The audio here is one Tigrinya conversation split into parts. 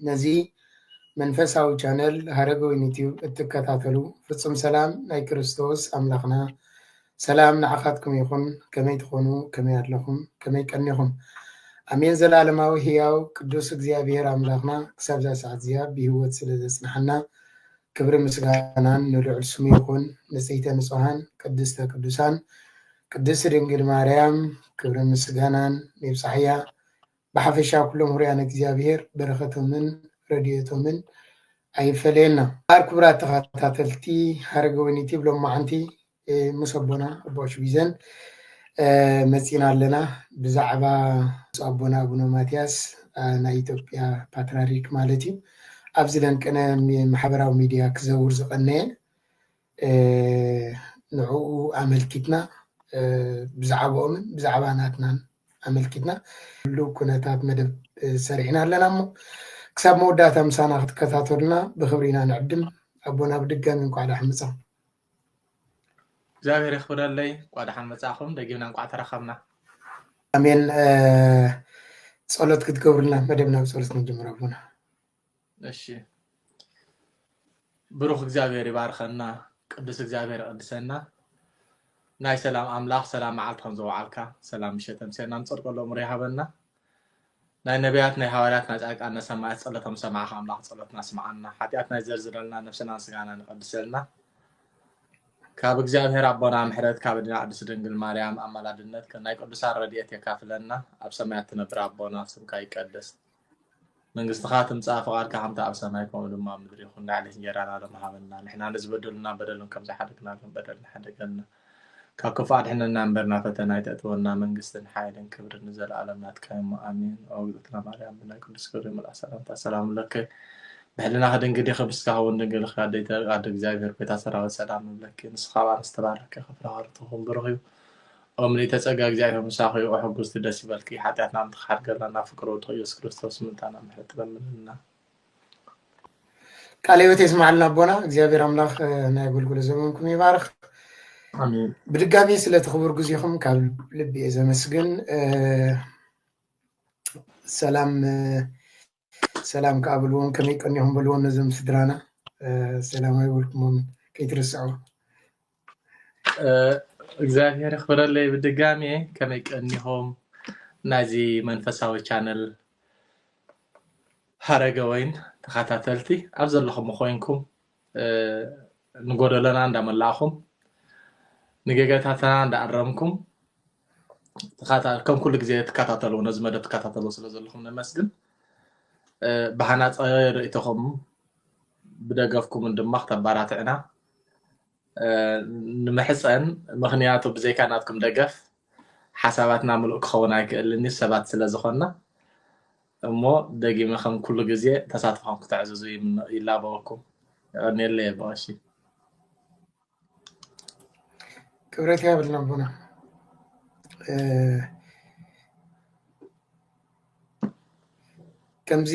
ነዚ መንፈሳዊ ቻነል ሃረገ ወይኒ ቲዩብ እትከታተሉ ፍፁም ሰላም ናይ ክርስቶስ ኣምላኽና ሰላም ንዓኻትኩም ይኹን። ከመይ ትኾኑ? ከመይ ኣለኹም? ከመይ ቀኒኹም? ኣሜን። ዘላለማዊ ህያው ቅዱስ እግዚኣብሔር ኣምላኽና ክሳብዛ ሰዓት እዚኣ ብህይወት ስለ ዘጽንሓና ክብሪ ምስጋናን ንልዑል ስሙ ይኹን። ንጽሕተ ንጹሃን ቅድስተ ቅዱሳን ቅድስት ድንግል ማርያም ክብሪ ምስጋናን ይብጻሕያ። ብሓፈሻ ኩሎም ውሩያን እግዚኣብሔር በረከቶምን ረድኤቶምን ኣይፈለየና። እምበኣር ክቡራት ተኸታተልቲ ሃረገወይኒ ቲብ ሎማዓንቲ ምስ ኣቦና ኣቦ ሽቢዘን መፂና ኣለና ብዛዕባ ምስ ኣቦና ኣቡነ ማትያስ ናይ ኢትዮጵያ ፓትራሪክ ማለት እዩ ኣብዚ ለንቅነ ማሕበራዊ ሚድያ ክዘውር ዝቀነየ ንዕኡ ኣመልኪትና ብዛዕባኦምን ብዛዕባ ናትናን ኣመልኪትና ህሉው ኩነታት መደብ ሰሪሕና ኣለና እሞ ክሳብ መወዳእታ ምሳና ክትከታተሉና ብክብሪ ኢና ንዕድም ኣቦና ብድጋሚ እንኳዕ ዳሓን መጻ እግዚኣብሔር የኽብረለይ እንኳዕ ዳሓን መጻእኹም ደጊምና እንኳዕ ተራኸብና ኣሜን ጸሎት ክትገብሩልና መደብና ብጸሎት ንጅምር ኣቦና እሺ ብሩኽ እግዚኣብሔር ይባርኸና ቅዱስ እግዚኣብሔር ይቐድሰና ናይ ሰላም ኣምላኽ ሰላም መዓልቲ ከም ዘውዓልካ ሰላም ምሸት ኣምስና ንፀድቆ ሎምሮ ይሃበና ናይ ነቢያት ናይ ሃዋርያት ናይ ጻድቃን ናይ ሰማያት ጸሎቶም ሰማዕኻ ኣምላኽ ጸሎትና ስምዓና ሓጢኣት ናይ ዘርዝረልና ነብስናን ስጋና ንቐድሰልና ካብ እግዚኣብሔር ኣቦና ምሕረት ካብ ድና ቅድስት ድንግል ማርያም ኣማላድነት ናይ ቅዱሳን ረድኤት የካፍለና ኣብ ሰማያት ትነብር ኣቦና ስምካ ይቀደስ መንግስትኻ ትምጻእ ፍቓድካ ከምቲ ኣብ ሰማይ ከምኡ ድማ ኣብ ምድሪ ይኹን ንዕለት እንጀራና ሎሚ ሃበና ንሕና ንዝበደሉና በደሎም ከም ዝሓደግናሎም በደልና ሓደገልና ካብ ክፉእ ኣድሕነና እምበር ናብ ፈተና ኣይተእትወና መንግስትን ሓይልን ክብርን ንዘለኣለም ናትካ እሞ ኣሜን ኦ እግዝእትና ማርያም ብናይ ቅዱስ ገብርኤል መልኣክ ሰላምታ ሰላም እብለኪ ብሕልናኺ ድንግል ኢኺ ብስጋኺ እውን ድንግል ኢኺ ኣደይ ኣደ እግዚኣብሔር ጎይታ ሰራዊት ሰላም እብለኪ ንስኻ ኣብ ኣንስቲ ባረኪ ክፍረ ሃርትኹም ብሩኽ እዩ ኦምሊተ ጸጋ እግዚኣብሔር ምሳኹ ይኹ ሕጉስቲ ደስ ይበልኪ ሓጢኣትና ንትክሓድ ገርናና ፍቅር ወድኹ ኢየሱስ ክርስቶስ ምንታና ምሕረት ትለምንልና ቃለ ሕይወት የስማዕልና ኣቦና እግዚኣብሔር ኣምላኽ ናይ ኣገልግሎ ዘመንኩም ይባርኽ ኣሜን ብድጋሚ ስለቲ ክቡር ግዜኹም ካብ ልቢ እየ ዘመስግን ሰላም ሰላም ከዓ በልዎም ከመይ ቀኒኹም በልዎም ነዞም ስድራና ሰላም ኣይበልኩሞም ከይትርስዑ እግዚኣብሔር ክብረለይ ብድጋሜ ከመይ ቀኒኹም ናይዚ መንፈሳዊ ቻነል ሃረገ ወይን ተኸታተልቲ ኣብ ዘለኹም ኮይንኩም ንጎደለና እንዳመላእኹም ንገገታትና እንዳኣረምኩም ከም ኩሉ ግዜ ትከታተሉ ነዚ መደብ ትከታተሉ ስለ ዘለኹም ነመስግን ብሃናፀ ርእቶኹም ብደገፍኩምን ድማ ክተባራትዕና ንምሕፀን ምክንያቱ ብዘይካ ናትኩም ደገፍ ሓሳባትና ምሉእ ክኸውን ኣይክእልን እዩ ሰባት ስለ ዝኾንና እሞ ደጊመ ከም ኩሉ ግዜ ተሳትፎኹም ክተዕዝዙ ይላበወኩም የቐኒየለይ የበቐሺ ክብረት ያብልና ኣቦና ከምዚ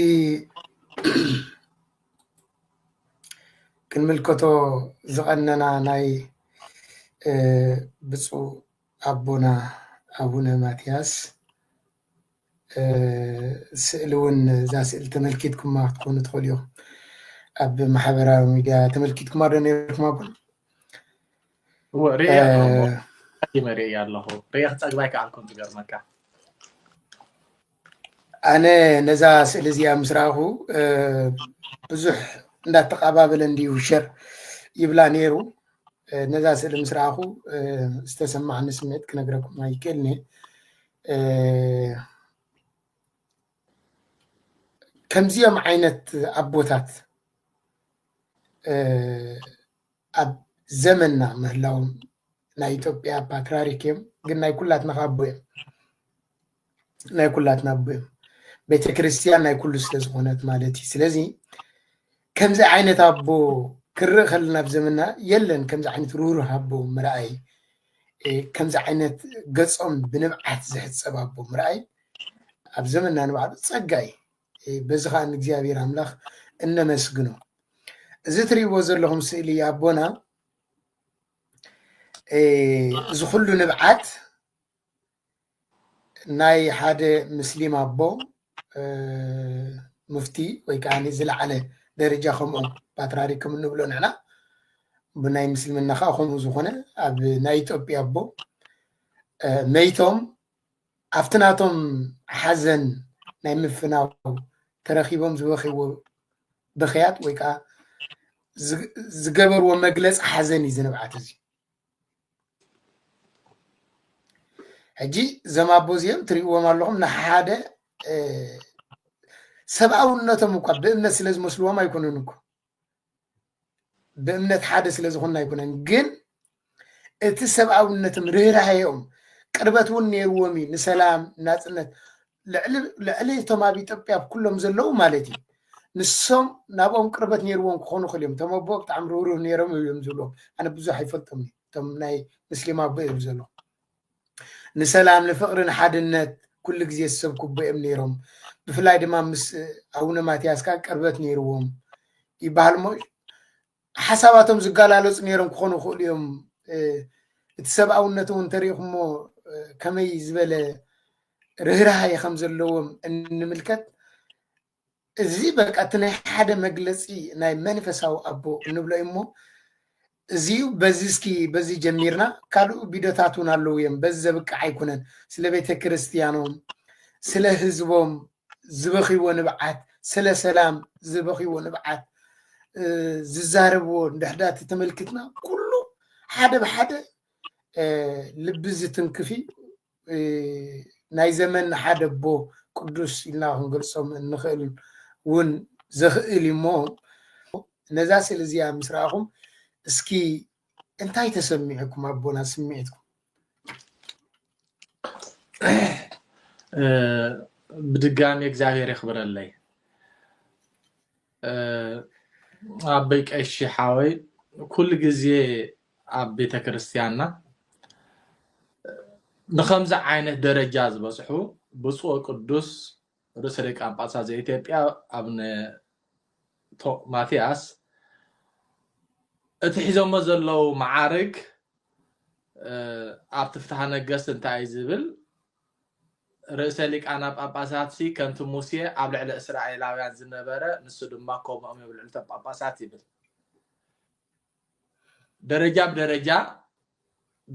ክንምልከቶ ዝቐነና ናይ ብፁዕ ኣቦና ኣቡነ ማትያስ ስእሊ እውን እዛ ስእሊ ተመልኪትኩማ ክትኮኑ ትኽእሉ ኢኹም ኣብ ማሕበራዊ ሚድያ ተመልኪትኩማ ዶ ነርኩማ ቡን እወ ርእየ ኣለኹ ርእየ ኣለኹ ርእየ ክፀግባ ኣይከኣልኩን ዝገርመካ ኣነ ነዛ ስእሊ እዚኣ ምስ ረኣኹ ብዙሕ እንዳተቀባበለ እንድዩ ሸር ይብላ ነይሩ ነዛ ስእሊ ምስ ረኣኹ ዝተሰማዕኒ ስምዒት ክነግረኩም ኣይክእልኒ ከምዚኦም ዓይነት ኣቦታት ኣብ ዘመንና ምህላዎም ናይ ኢትዮጵያ ፓትርያርክ እዮም፣ ግን ናይ ኩላትና ኣቦ እዮም። ናይ ኩላትና ኣቦ እዮም። ቤተክርስትያን ናይ ኩሉ ስለዝኾነት ማለት እዩ። ስለዚ ከምዚ ዓይነት ኣቦ ክርእ ከለና ኣብ ዘመንና የለን ከምዚ ዓይነት ርህሩህ ኣቦ ምርኣይ ከምዚ ዓይነት ገፆም ብንብዓት ዝሕፀብ ኣቦ ምርኣይ ኣብ ዘመና ንባዕሉ ፀጋ እዩ በዚ ከዓ ንእግዚኣብሔር ኣምላኽ እነመስግኖ እዚ ትሪእዎ ዘለኹም ስእሊ ኣቦና እዚ ኩሉ ንብዓት ናይ ሓደ ምስሊም ኣቦ ሙፍቲ ወይ ከዓ ዝለዓለ ደረጃ ከምኡ ፓትራሪ ከም እንብሎ ንሕና ብናይ ምስልምና ከዓ ከምኡ ዝኾነ ኣብ ናይ ኢትዮጵያ ኣቦ መይቶም ኣብቲ ናቶም ሓዘን ናይ ምፍናው ተረኪቦም ዝበኪዎ ብክያት ወይ ከዓ ዝገበርዎ መግለፂ ሓዘን እዩ ዝንብዓት እዚ ሕጂ እዞም ኣቦ እዚኦም ትሪእዎም ኣለኹም ንሓደ ሰብኣውነቶም እኳ ብእምነት ስለ ዝመስልዎም ኣይኮኑን እኮ ብእምነት ሓደ ስለ ዝኾኑ ኣይኮነን ግን እቲ ሰብኣውነትም ርህራሄኦም ቅርበት እውን ነይርዎም እዩ ንሰላም ናፅነት ልዕሊ እቶም ኣብ ኢትዮጵያ ኣብ ኩሎም ዘለዉ ማለት እዩ ንሶም ናብኦም ቅርበት ነይርዎም ክኾኑ ክእል እዮም እቶም ኣቦ ብጣዕሚ ርህሩህ ነይሮም እዮም ዝብሎም ኣነ ብዙሕ ኣይፈልጦም እቶም ናይ ምስሊም ኣቦ እዮም ዘሎ ንሰላም ንፍቅሪ ንሓድነት ኩሉ ግዜ ዝሰብኩ ኣቦ እዮም ነይሮም ብፍላይ ድማ ምስ ኣቡነ ማትያስ ከዓ ቅርበት ነይርዎም ይበሃል እሞ ሓሳባቶም ዝጋላለፁ ነይሮም ክኾኑ ይኽእሉ እዮም እቲ ሰብኣውነት እውን ተሪኢኹሞ ከመይ ዝበለ ርህራሃይ ከም ዘለዎም እንምልከት እዚ በቃ እቲ ናይ ሓደ መግለፂ ናይ መንፈሳዊ ኣቦ እንብሎ እዩ እሞ እዚ እዩ በዚ እስኪ በዚ ጀሚርና ካልኡ ቢዶታት እውን ኣለዉ እዮም በዚ ዘብቅዕ ኣይኮነን ስለ ቤተ ክርስትያኖም ስለ ህዝቦም ዝበኽይዎ ንብዓት ስለ ሰላም ዝበኽይዎ ንብዓት ዝዛረብዎ እንድሕዳ ተተመልክትና ኩሉ ሓደ ብሓደ ልቢ ዝትንክፍ እዩ ናይ ዘመን ሓደ ኣቦ ቅዱስ ኢልና ክንገልፆም እንኽእል እውን ዘኽእል እሞ ነዛ ስእሊ እዚኣ ምስ ረኣኹም እስኪ እንታይ ተሰሚዕኩም ኣቦና ስምዒትኩም ብድጋሚ እግዚኣብሔር የኽብረለይ ኣበይ ቀሺ ሓወይ ኩሉ ግዜ ኣብ ቤተ ክርስቲያንና ንከምዚ ዓይነት ደረጃ ዝበፅሑ ብፁዕ ቅዱስ ርእሰ ሊቃነ ጳጳሳት ዘኢትዮጵያ ኣብነ ማትያስ እቲ ሒዞሞ ዘለው መዓርግ ኣብቲ ፍትሃ ነገስት እንታይ እዩ ዝብል ርእሰ ሊቃና ጳጳሳት ሲ ከምቲ ሙሴ ኣብ ልዕሊ እስራኤላውያን ዝነበረ ንሱ ድማ ከምኦም እዮም ልዕልቶም ጳጳሳት ይብል ደረጃ ብደረጃ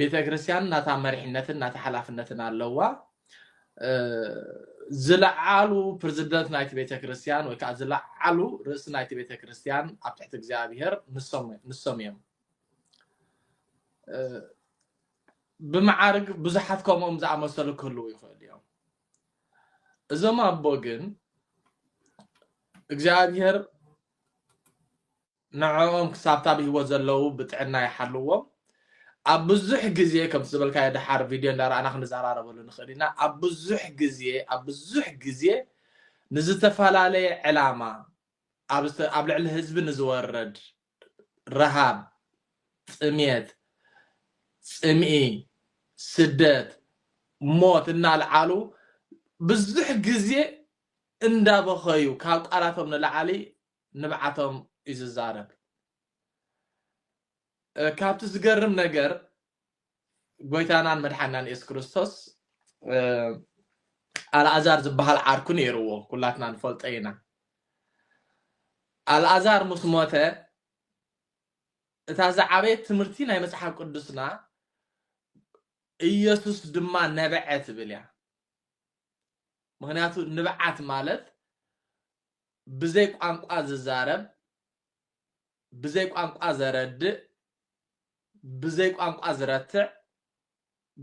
ቤተክርስትያን ናታ መሪሕነትን ናታ ሓላፍነትን ኣለዋ ዝለዓሉ ፕሬዚደንት ናይቲ ቤተክርስትያን ወይ ከዓ ዝለዓሉ ርእሲ ናይቲ ቤተክርስትያን ኣብ ትሕቲ እግዚኣብሄር ንሶም እዮም ብመዓርግ ብዙሓት ከምኦም ዝኣመሰሉ ክህልው ይኽእሉ እዮም እዞም ኣቦ ግን እግዚኣብሄር ንዕኦም ክሳብታ ብሂወት ዘለዉ ብጥዕና ይሓልዎም። ኣብ ብዙሕ ግዜ ከምቲ ዝበልካዮ ደሓር ቪድዮ እንዳረኣና ክንዘራረበሉ ንኽእል ኢና ኣብ ብዙሕ ግዜ ኣብ ብዙሕ ግዜ ንዝተፈላለየ ዕላማ ኣብ ዝተ ኣብ ልዕሊ ህዝቢ ንዝወርድ ረሃብ፣ ጥምየት፣ ጽምኢ፣ ስደት፣ ሞት እናልዓሉ ብዙሕ ግዜ እንዳበኸዩ ካብ ቃላቶም ንላዕሊ ንብዓቶም እዩ ዝዛረብ ካብቲ ዝገርም ነገር ጎይታናን መድሓናን የሱስ ክርስቶስ ኣልኣዛር ዝበሃል ዓርኩ ነይርዎ ኩላትና ንፈልጦ ኢና ኣልኣዛር ምስ ሞተ እታ ዝዓበየት ትምህርቲ ናይ መጽሓፍ ቅዱስና ኢየሱስ ድማ ነበዐ ትብል እያ ምክንያቱ ንብዓት ማለት ብዘይ ቋንቋ ዝዛረብ፣ ብዘይ ቋንቋ ዘረድእ፣ ብዘይ ቋንቋ ዝረትዕ፣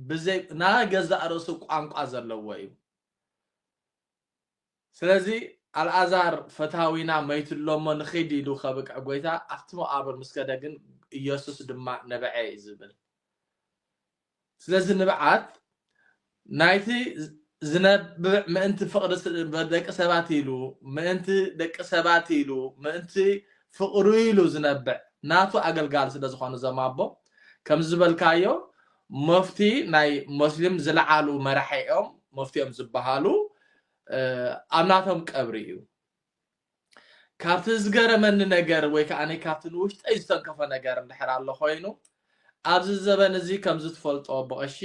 ብዘይ ናይ ገዛእ ርእሱ ቋንቋ ዘለዎ እዩ። ስለዚ ኣልኣዛር ፈታዊና መይቱ ኣሎ'ሞ ንኺድ ኢሉ ከብቅዕ ጐይታ ኣብቲ መቓብር ምስ ከደ ግን ኢየሱስ ድማ ነበዐ እዩ ዝብል። ስለዚ ንብዓት ናይቲ ዝነብዕ ምእንቲ ፍቕሪ ደቂ ሰባት ኢሉ፣ ምእንቲ ደቂ ሰባት ኢሉ፣ ምእንቲ ፍቕሩ ኢሉ ዝነብዕ ናቱ ኣገልጋሊ ስለ ዝኾኑ እዞም ኣቦ ከምዚ ዝበልካዮ መፍቲ ናይ ሞስሊም ዝለዓሉ መራሒ እዮም መፍቲ እዮም ዝበሃሉ ኣብ ናቶም ቀብሪ እዩ ካብቲ ዝገረመኒ ነገር ወይ ከኣ ካብቲ ንውሽጠይ ዝተንከፎ ነገር እንድሕር ኣሎ ኮይኑ ኣብዚ ዘበን እዚ ከምዚ ትፈልጦ ብቐሺ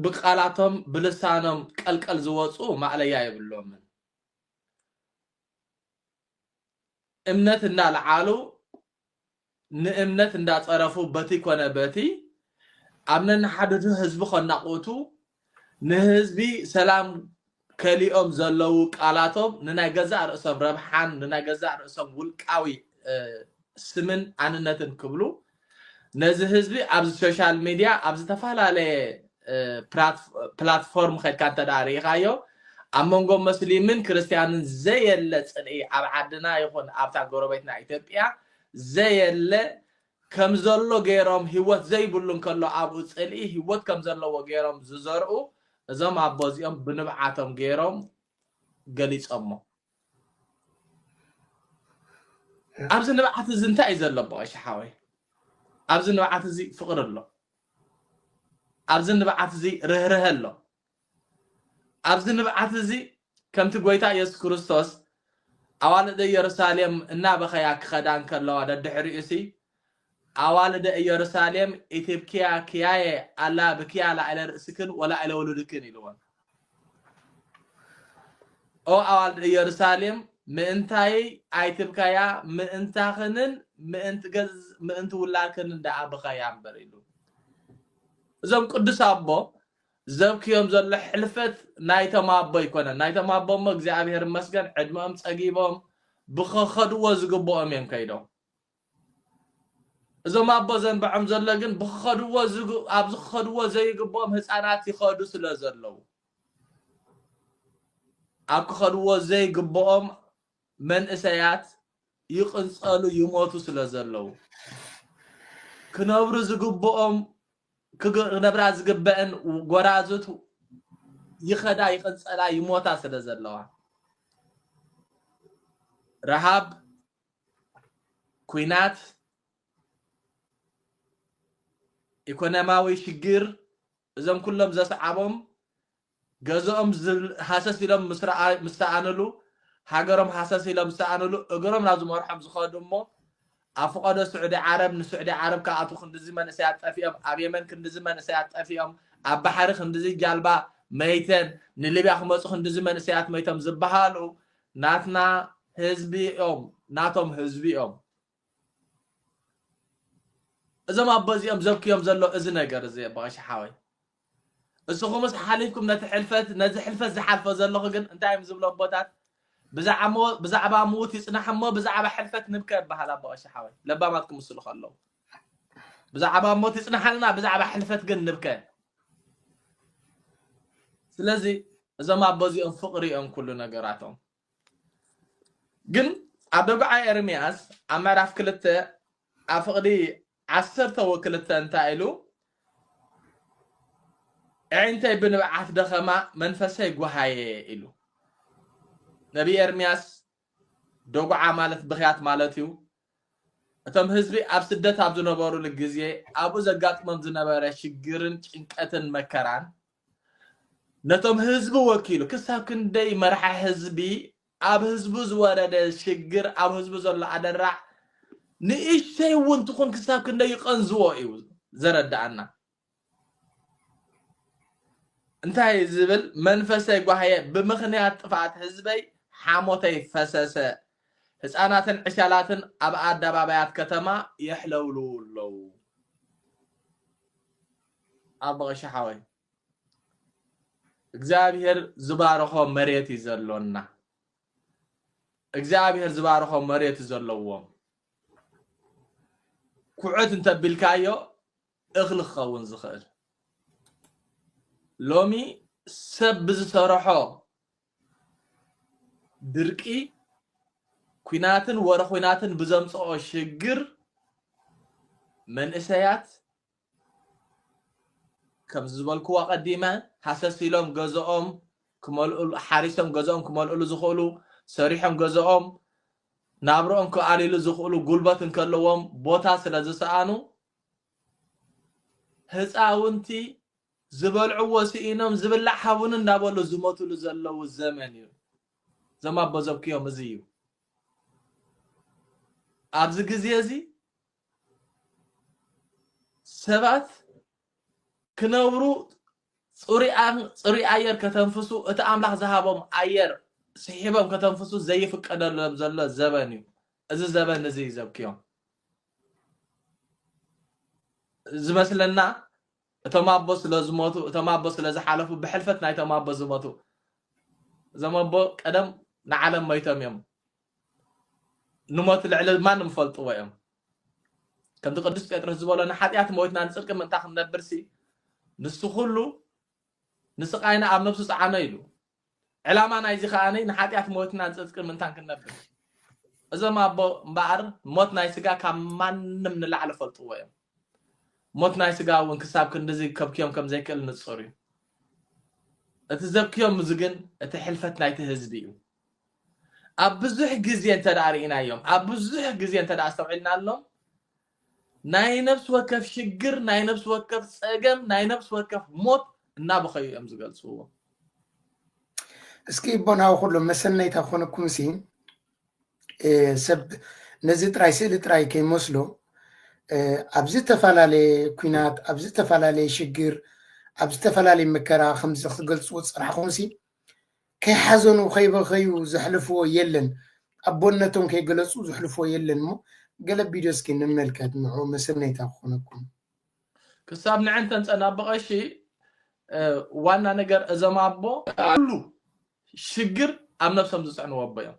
ብቃላቶም ብልሳኖም ቀልቀል ዝወጹ ማእለያ የብሎምን እምነት እናልዓሉ ንእምነት እንዳጸረፉ በቲ ኮነ በቲ ኣብ ነንሓድሕዱ ህዝቢ ከናቑቱ ንህዝቢ ሰላም ከሊኦም ዘለዉ ቃላቶም ንናይ ገዛእ ርእሶም ረብሓን ንናይ ገዛእ ርእሶም ውልቃዊ ስምን ኣንነትን ክብሉ ነዚ ህዝቢ ኣብዚ ሶሻል ሚድያ ኣብ ዝተፈላለየ ፕላትፎርም ከድካ እንተ ርኢኻዮ ኣብ መንጎ መስሊምን ክርስትያንን ዘየለ ጽልኢ ኣብ ዓድና ይኹን ኣብታ ጎረቤትና ኢትዮጵያ ዘየለ ከም ዘሎ ገይሮም ህይወት ዘይብሉ እንከሎ ኣብኡ ጽልኢ ህይወት ከም ዘለዎ ገይሮም ዝዘርኡ እዞም ኣቦ እዚኦም ብንብዓቶም ገይሮም ገሊጾሞ። ኣብዚ ንብዓት እዚ እንታይ እዩ ዘሎ ብቐሺ ሓወይ? ኣብዚ ንብዓት እዚ ፍቕሪ ኣሎ። ኣብዚ ንብዓት እዚ ርህርሀ ኣሎ። ኣብዚ ንብዓት እዚ ከምቲ ጎይታ ኢየሱስ ክርስቶስ ኣዋልድ ኢየሩሳሌም እናበኸያ ክኸዳ እንከለዋ ደድሕሪኡሲ ኣዋልደ ኢየሩሳሌም ኢትብክያ ክያየ ኣላ ብክያ ላዕለ ርእስክን ወላዕለ ውሉድክን ኢልወን ኦ ኣዋልድ ኢየሩሳሌም ምእንታይ ኣይትብከያ ምእንታኽንን ምእንቲ ገዝ ምእንቲ ውላድክንን ደኣ ብኸያ እምበር ኢሉ እዞም ቅዱስ ኣቦ ዘብክዮም ዘሎ ሕልፈት ናይቶም ኣቦ ኣይኮነን ናይቶም ኣቦ እሞ እግዚኣብሔር ይመስገን ዕድመኦም ፀጊቦም ብኸኸድዎ ዝግብኦም እዮም ከይዶም እዞም ኣቦ ዘንብዖም ዘሎ ግን ብኸኸድዎ ኣብዚ ክኸድዎ ዘይግብኦም ህፃናት ይኸዱ ስለ ዘለዉ ኣብ ክኸድዎ ዘይግብኦም መንእሰያት ይቕንጸሉ ይሞቱ ስለ ዘለዉ፣ ክነብሩ ዝግብኦም ክነብራ ዝግበእን ጎራዙት ይኸዳ ይቕንጸላ ይሞታ ስለ ዘለዋ፣ ረሃብ፣ ኩናት፣ ኢኮኖሚያዊ ሽግር እዞም ኩሎም ዘስዓቦም ገዝኦም ሃሰስ ኢሎም ምስ ሰኣንሉ፣ ሃገሮም ሃሰስ ኢሎም ዝሰኣንሉ፣ እግሮም ናብ ዝመርሖም ዝኸዱ እሞ ኣብ ፍቐዶ ስዑዲ ዓረብ ንስዑዲ ዓረብ ክኣትዉ ክንድዚ መንእሰያት ጠፊኦም፣ ኣብ የመን ክንድዚ መንእሰያት ጠፊኦም፣ ኣብ ባሕሪ ክንድዚ ጃልባ መይተን፣ ንሊብያ ክመጹ ክንድዚ መንእሰያት መይቶም ዝበሃሉ ናትና ህዝቢ እዮም፣ ናቶም ህዝቢ እዮም። እዞም ኣቦ እዚኦም ዘብክዮም ዘሎ እዚ ነገር እዚ በቐሻ ሓወይ እስኹምስ ሓሊፍኩም ነቲ ሕልፈት ነዚ ሕልፈት ዝሓልፎ ዘለኹ ግን እንታይ እዮም ዝብሎ ኣቦታት ብዛዕባ ምዉት ይጽናሕ እሞ ብዛዕባ ሕልፈት ንብከ ይበሃል ኣቦቐሻ ሓወይ ለባማት ክምስሉ ከለዉ ብዛዕባ ሞት ይጽናሓልና ብዛዕባ ሕልፈት ግን ንብከ ስለዚ እዞም ኣቦ እዚኦም ፍቕሪ እዮም ኩሉ ነገራቶም ግን ኣብ ደጉዓ ኤርምያስ ኣብ ምዕራፍ ክልተ ኣብ ፍቕዲ ዓሰርተ ወክልተ እንታይ ኢሉ ኣዒንተይ ብንብዓት ደኸማ መንፈሰይ ጓሃየ ኢሉ ነቢ ኤርምያስ ደጉዓ ማለት ብኽያት ማለት እዩ እቶም ህዝቢ ኣብ ስደት ኣብ ዝነበሩሉ ግዜ ኣብኡ ዘጋጥሞም ዝነበረ ሽግርን ጭንቀትን መከራን ነቶም ህዝቢ ወኪሉ ክሳብ ክንደይ መራሒ ህዝቢ ኣብ ህዝቡ ዝወረደ ሽግር ኣብ ህዝቡ ዘሎ ኣደራዕ ንእሽተይ እውን ትኹን ክሳብ ክንደይ ይቐንዝዎ እዩ ዘረዳኣና እንታይ ዝብል መንፈሰይ ጓህየ ብምኽንያት ጥፍኣት ህዝበይ ሓሞተይ ፈሰሰ ህፃናትን ዕሻላትን ኣብ ኣደባባያት ከተማ የሕለውልዉ ኣለዉ ኣቦ ቀሺ ሓወይ እግዚኣብሄር ዝባርኾ መሬት እዩ ዘሎና እግዚኣብሄር ዝባርኾ መሬት እዩ ዘለዎም ኩዕት እንተቢልካዮ እኽሊ ክኸውን ዝኽእል ሎሚ ሰብ ብዝሰርሖ ድርቂ ኩናትን ወረ ኩናትን ብዘምፅኦ ሽግር መንእሰያት ከምዚ ዝበልክዎ ኣቐዲመ ሃሰስ ኢሎም ገዝኦም ክመልእሉ ሓሪሶም ገዝኦም ክመልእሉ ዝኽእሉ ሰሪሖም ገዝኦም ናብርኦም ክኣልይሉ ዝኽእሉ ጉልበት እንከለዎም ቦታ ስለ ዝሰኣኑ ህፃውንቲ ዝበልዕዎ ስኢኖም ዝብላዕ ሃቡን እንዳበሉ ዝሞትሉ ዘለዉ ዘመን እዩ እዞም ኣቦ ዘብክዮም እዚ እዩ ኣብዚ ግዜ እዚ ሰባት ክነብሩ ጽሩይ ኣየር ከተንፍሱ እቲ ኣምላኽ ዝሃቦም ኣየር ስሒቦም ከተንፍሱ ዘይፍቀደሎም ዘሎ ዘበን እዩ እዚ ዘበን እዚ እዩ ዘብክዮም ዝመስለና እቶም ኣቦ ስለ ዝሞቱ እቶም ኣቦ ስለ ዝሓለፉ ብሕልፈት ናይቶም ኣቦ ዝሞቱ እዞም ኣቦ ቀደም ንዓለም መይቶም እዮም ንሞት ልዕሊ ማንም ዝፈልጥዎ እዮም ከምቲ ቅዱስ ጴጥሮስ ዝበሎ ንሓጢኣት ሞይትና ንፅድቂ ምእንታ ክንነብርሲ ንሱ ኩሉ ንስቃይና ኣብ ነብሱ ፀዓኖ ኢሉ ዕላማ ናይዚ ከኣ ንሓጢኣት ሞትና ጽጽቂ ምንታን ክንነብር እዩ። እዞም ኣቦ እምበኣር ሞት ናይ ስጋ ካብ ማንም ንላዕሊ ፈልጥዎ እዮም። ሞት ናይ ስጋ እውን ክሳብ ክንድዚ ከብክዮም ከም ዘይክእል ንጹር እዩ። እቲ ዘብክዮም እዚ ግን እቲ ሕልፈት ናይቲ ህዝቢ እዩ። ኣብ ብዙሕ ግዜ እንተደኣ ርኢናዮም ኣብ ብዙሕ ግዜ እንተደኣ ኣስተውዒልናሎም ናይ ነብሲ ወከፍ ሽግር፣ ናይ ነብሲ ወከፍ ጸገም፣ ናይ ነብሲ ወከፍ ሞት እናበኸዩ እዮም ዝገልጽዎ። እስኪ እቦ ናሁ ኩሎም መሰነይታ ኮነኩምሲ ሰብ ነዚ ጥራይ ስእሊ ጥራይ ከይመስሎ ኣብ ዝተፈላለየ ኩናት ኣብ ዝተፈላለየ ሽግር ኣብ ዝተፈላለየ መከራ ከምዚ ክትገልፅዎ ዝፀናሕኹምሲ ከይሓዘኑ ከይበኸዩ ዘሕልፍዎ የለን ኣቦነቶም ከይገለፁ ዘሕልፍዎ የለን እሞ ገለ ቪድዮ እስኪ ንመልከት ንዑ መሰነይታ ክኾነኩም ክሳብ ንዕን ተንጸናብቐሺ ዋና ነገር እዞም ኣቦ ኣሉ ሽግር ኣብ ነብሶም ዝጽዕንዎ ኣቦ እዮም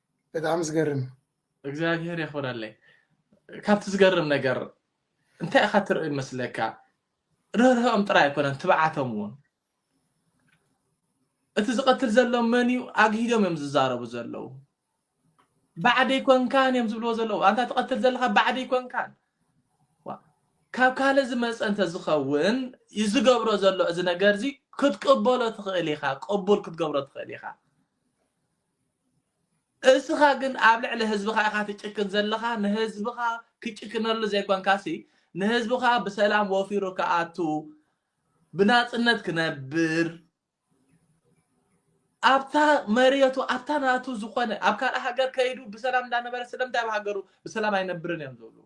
ብጣዕሚ ዝገርም። እግዚኣብሄር የኽብረለይ ካብቲ ዝገርም ነገር እንታይ ኢኻ ትርኢ ይመስለካ ርህራሄኦም ጥራይ ኣይኮነን ትብዓቶም እውን እቲ ዝቐትል ዘሎ መን እዩ ኣግሂዶም እዮም ዝዛረቡ ዘለዉ ባዕደይ ኮንካን እዮም ዝብልዎ ዘለዉ ኣንታ ትቐትል ዘለካ ባዕደይ ኮንካን ዋ፣ ካብ ካልእ ዝመፀ እንተዝኸውን እዩ ዝገብሮ ዘሎ እዚ ነገር እዚ ክትቅበሎ ትኽእል ኢኻ ቅቡል ክትገብሮ ትኽእል ኢኻ እስኻ ግን ኣብ ልዕሊ ህዝብኻ ኢኻ ትጭክን ዘለኻ ንህዝብኻ ክጭክነሉ ዘይኮንካሲ ንህዝብኻ ብሰላም ወፊሩ ክኣቱ ብናጽነት ክነብር ኣብታ መሬቱ ኣብታ ናቱ ዝኾነ ኣብ ካልእ ሃገር ከይዱ ብሰላም እንዳነበረ ስለምንታይ ኣብ ሃገሩ ብሰላም ኣይነብርን እዮም ዝብሉ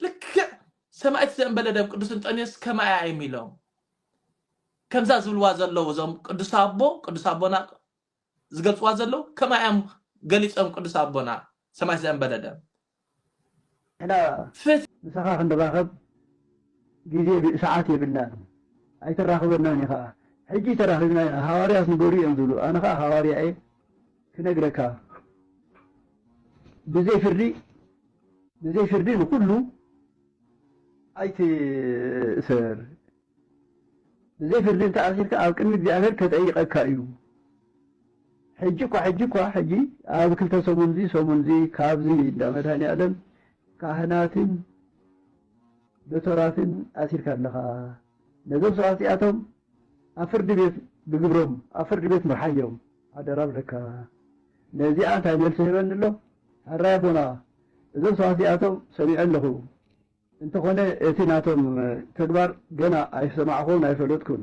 ልክዕ ሰማዕቲ ዘእንበለ ደም ቅዱስ እንጠንዮስ ከማያ እዮም ኢሎም ከምዛ ዝብልዋ ዘለዉ እዞም ቅዱስ ኣቦ ቅዱስ ኣቦና ዝገልጽዋ ዘለዉ ከምኣ እዮም ገሊጾም ቅዱስ ኣቦና ሰማይ ዘንበለ ደም ንሕና ፍትሒ ምሳኻ ክንራኸብ ግዜ ሰዓት የብልናን ኣይተራኽበናን ኢኻ ሕጂ ተራኺብና ኢና ሃዋርያት ንገሩ እዮም ዝብሉ ኣነ ኸኣ ሃዋርያ እየ ክነግረካ ብዘይ ፍርዲ ብዘይ ፍርዲ ንኹሉ ኣይትእሰር፣ ብዘይ ፍርዲ እንተ ኣሲርካ ኣብ ቅድሚ እግዚኣብሄር ኬጠይቐካ እዩ። ሕጂ እኳ ሕጂ እኳ ሕጂ ኣብ ክልተ ሰሙን እዚ ሰሙን እዚ ካብዚ እንዳ መድሃኒኣለም ካህናትን ዶቶራትን ኣሲርካ ኣለኻ። ነዞም ሰባት እዚኣቶም ኣብ ፍርዲ ቤት ብግብሮም ኣብ ፍርዲ ቤት ምርሓዮም ሓደራ ብለካ። ነዚኣ እንታይ መልሲ ህበኒ ኣሎ ሐራይ ኣቦና እዞም ሰባት እዚኣቶም ሰሚዐ ኣለኹ እንተኾነ እቲ ናቶም ተግባር ገና ኣይሰማዕኹን ኣይፈለጥኩን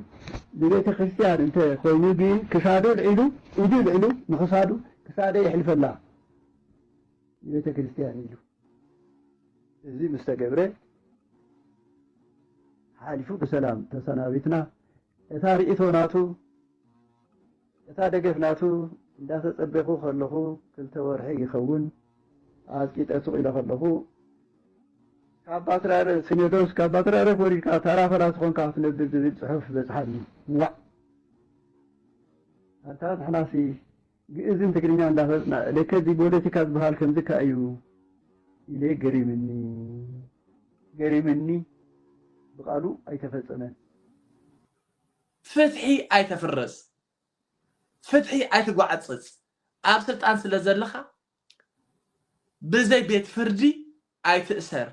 ብቤተ ክርስትያን እንተ ኾይኑ ግን ክሳዱ ልዒሉ ኢዱ ልዕሉ ንኽሳዱ ክሳደይ የሕልፈላ ንቤተ ክርስትያን ኢሉ እዚ ምስ ተገብረ ሓሊፉ ብሰላም ተሰናቢትና እታ ሪኢቶ ናቱ እታ ደገፍ ናቱ እንዳተጸበኹ ከለኹ ክልተ ወርሒ ይኸውን ኣጽቂጠ ሱቕ ኢለ ከለኹ ካብ ባትራረ ሲኖዶስ ካብ ባትራረ ወሪድካ ታራ ፈላሲ ኾንካ ክትነብር ዝብል ጽሑፍ በጽሓኒ ዋዕ ኣታ ንሕናሲ ግእዝን ትግርኛን ዳፈለጥና ለከ እዚ ቦለቲካ ዝባሃል ከምዚ እካ እዩ ኢለ ገሪምኒ ገሪምኒ ብቃሉ ኣይተፈጸመን። ፍትሒ ኣይተፍርስ ፍትሒ ኣይትጓዕጽጽ ኣብ ስልጣን ስለ ዘለኻ ብዘይ ቤት ፍርዲ ኣይትእሰር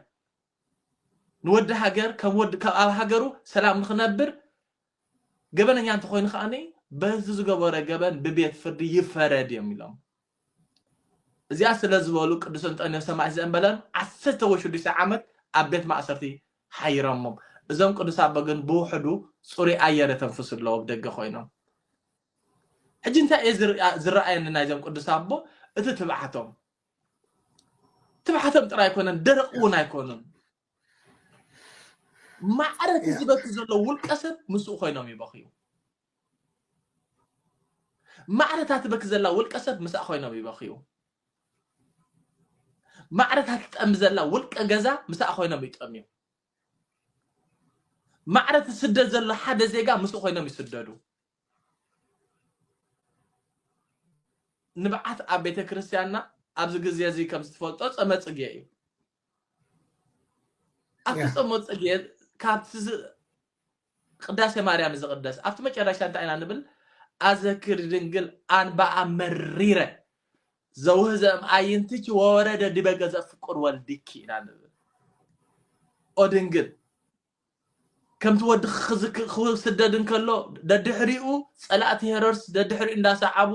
ንወዲ ሃገር ከም ወዲ ከም ኣብ ሃገሩ ሰላም ንኽነብር ገበነኛ እንተኾይኑ ከኣ በዚ ዝገበሮ ገበን ብቤት ፍርዲ ይፈረድ እዮም ኢሎም። እዚኣ ስለ ዝበሉ ቅዱስ እንጠንዮስ ሰማዒት ዘእምበለን ዓሰርተ ወይ ሽዱሽተ ዓመት ኣብ ቤት ማእሰርቲ ሓይሮሞም። እዞም ቅዱስ ኣቦ ግን ብውሕዱ ጽሩይ ኣየር የተንፍሱ ኣለዉ ኣብ ደገ ኮይኖም። ሕጂ እንታይ እዩ ዝረኣየኒ ናይዞም ቅዱስ ኣቦ እቲ ትብዓቶም ትብዓቶም ጥራይ ኣይኮነን ደረቕ እውን ኣይኮኑን ማዕረ እቲ ዝበኪ ዘሎ ውልቀ ሰብ ምስኡ ኮይኖም ይበኽዩ ማዕረ እታ ትበኪ ዘላ ውልቀ ሰብ ምስኣ ኮይኖም ይበኽዩ ማዕረ እታ ትጠሚ ዘላ ውልቀ ገዛ ምስኣ ኮይኖም ይጠምዩ ማዕረ እቲ ስደት ዘሎ ሓደ ዜጋ ምስኡ ኮይኖም ይስደዱ ንብዓት ኣብ ቤተ ክርስቲያንና ኣብዚ ግዜ እዚ ከም ዝትፈልጦ ጸመ ጽጌ እዩ ኣብቲ ጸመ ጽጌ ካብቲ ቅዳሴ ማርያም ዝቕደስ ኣብቲ መጨረሻ እንታይ ኢና ንብል ኣዘክር ድንግል ኣንባኣ መሪረ ዘውህዘም ኣይንትች ወወረደ ዲበ ገዘ ፍቁር ወልድኪ ኢና ንብል ኦ ድንግል ከምቲ ወዲ ክዝክ- ክስደድ እንከሎ ደድሕሪኡ ጸላእቲ ሄሮድስ ደድሕሪኡ እንዳሰዓቡ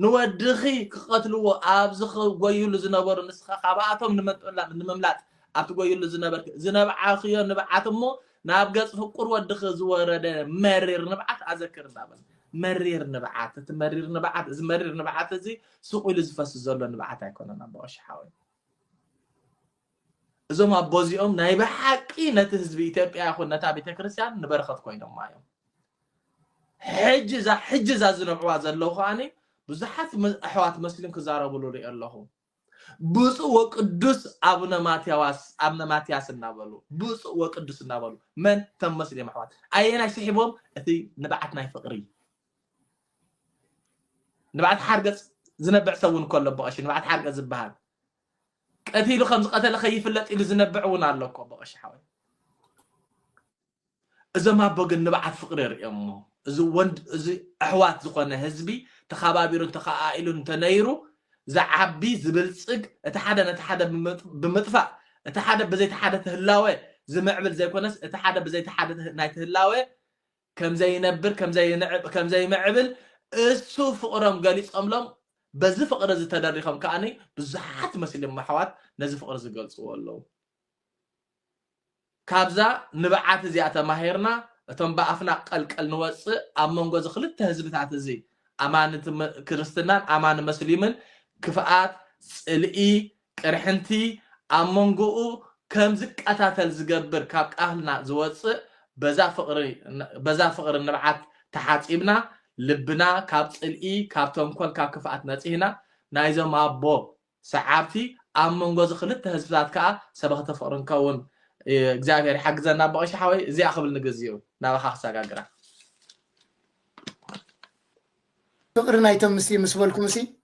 ንወድኺ ክቐትልዎ ኣብ ዝጎይሉ ዝነበሩ ንስኻ ካብኣቶም ንመጥላ- ንምምላጥ ኣብ ትጎይሉ ዝነበርክ ዝነብዓኽዮ ንብዓት እሞ ናብ ገጽ ፍቁር ወድኺ ዝወረደ መሪር ንብዓት ኣዘክር እንዳበለ መሪር ንብዓት እቲ መሪር ንብዓት እዚ መሪር ንብዓት እዚ ስቑ ኢሉ ዝፈስስ ዘሎ ንብዓት ኣይኮነን ኣቦ ቀሺ ሓወይ እዞም ኣቦ እዚኦም ናይ ብሓቂ ነቲ ህዝቢ ኢትዮጵያ ይኹን ነታ ቤተ ክርስቲያን ንበረኸት ኮይኖማ እዮም ሕጂ እዛ ሕጂ እዛ ዝነብዕዋ ዘለዉ ከዓኒ ብዙሓት ኣሕዋት መስሊም ክዛረብሉ ሪኦ ኣለኹ ብፁእ ወቅዱስ ኣቡነ ማትያዋስ ኣብነ ማትያስ እናበሉ ብፁእ ወቅዱስ እናበሉ መን ተም መስሊም ኣሕዋት ኣየናይ ስሒቦም እቲ ንብዓት ናይ ፍቅሪ ንብዓት ሓርገፅ ዝነብዕ ሰብ እውን ከሎ በቐሺ ንብዓት ሓርገፅ ዝበሃል ቀቲሉ ከም ዝቀተለ ከይፍለጥ ኢሉ ዝነብዕ እውን ኣሎ እኮ በቀሽ ሓወይ እዞም ኣቦ ግን ንብዓት ፍቅሪ ርእዮሞ እዚ ወንድ እዚ ኣሕዋት ዝኾነ ህዝቢ ተኸባቢሩ ተኸኣኢሉ እንተነይሩ ዝዓቢ ዝብልፅግ እቲ ሓደ ነቲ ሓደ ብምጥፋእ እቲ ሓደ ብዘይቲ ሓደ ትህላወ ዝምዕብል ዘይኮነስ እቲ ሓደ ብዘይቲ ሓደ ናይ ትህላወ ከም ዘይነብር ከም ዘይንዕብ ከም ዘይምዕብል እሱ ፍቅሮም ገሊጾምሎም በዚ ፍቅሪ እዚ ተደሪኾም ከኣ ብዙሓት መስሊም ኣሕዋት ነዚ ፍቅሪ እዚ ገልጽዎ ኣለዉ ካብዛ ንብዓት እዚኣ ተማሂርና እቶም ብኣፍና ቀልቀል ንወጽእ ኣብ መንጎ እዚ ክልተ ህዝብታት እዚ ኣማኒ ክርስትናን ኣማኒ መስሊምን ክፍኣት ጽልኢ ቅርሕንቲ ኣብ መንጎኡ ከም ዝቀታተል ዝገብር ካብ ቃህልና ዝወጽእ በዛ ፍቕሪ በዛ ፍቕሪ ንብዓት ተሓጺብና ልብና ካብ ጽልኢ ካብ ተንኮል ካብ ክፍኣት ነጺህና ናይዞም ኣቦ ሰዓብቲ ኣብ መንጎ እዚ ክልተ ህዝብታት ከኣ ሰበኽቲ ፍቕሪ ንከውን እግዚኣብሔር ይሓግዘና ኣቦ ቀሺ ሓወይ እዚኣ ክብል ንግዚኡ ናባኻ ክሰጋግራ ፍቅሪ ናይቶም ምስ ምስ በልኩም ሲ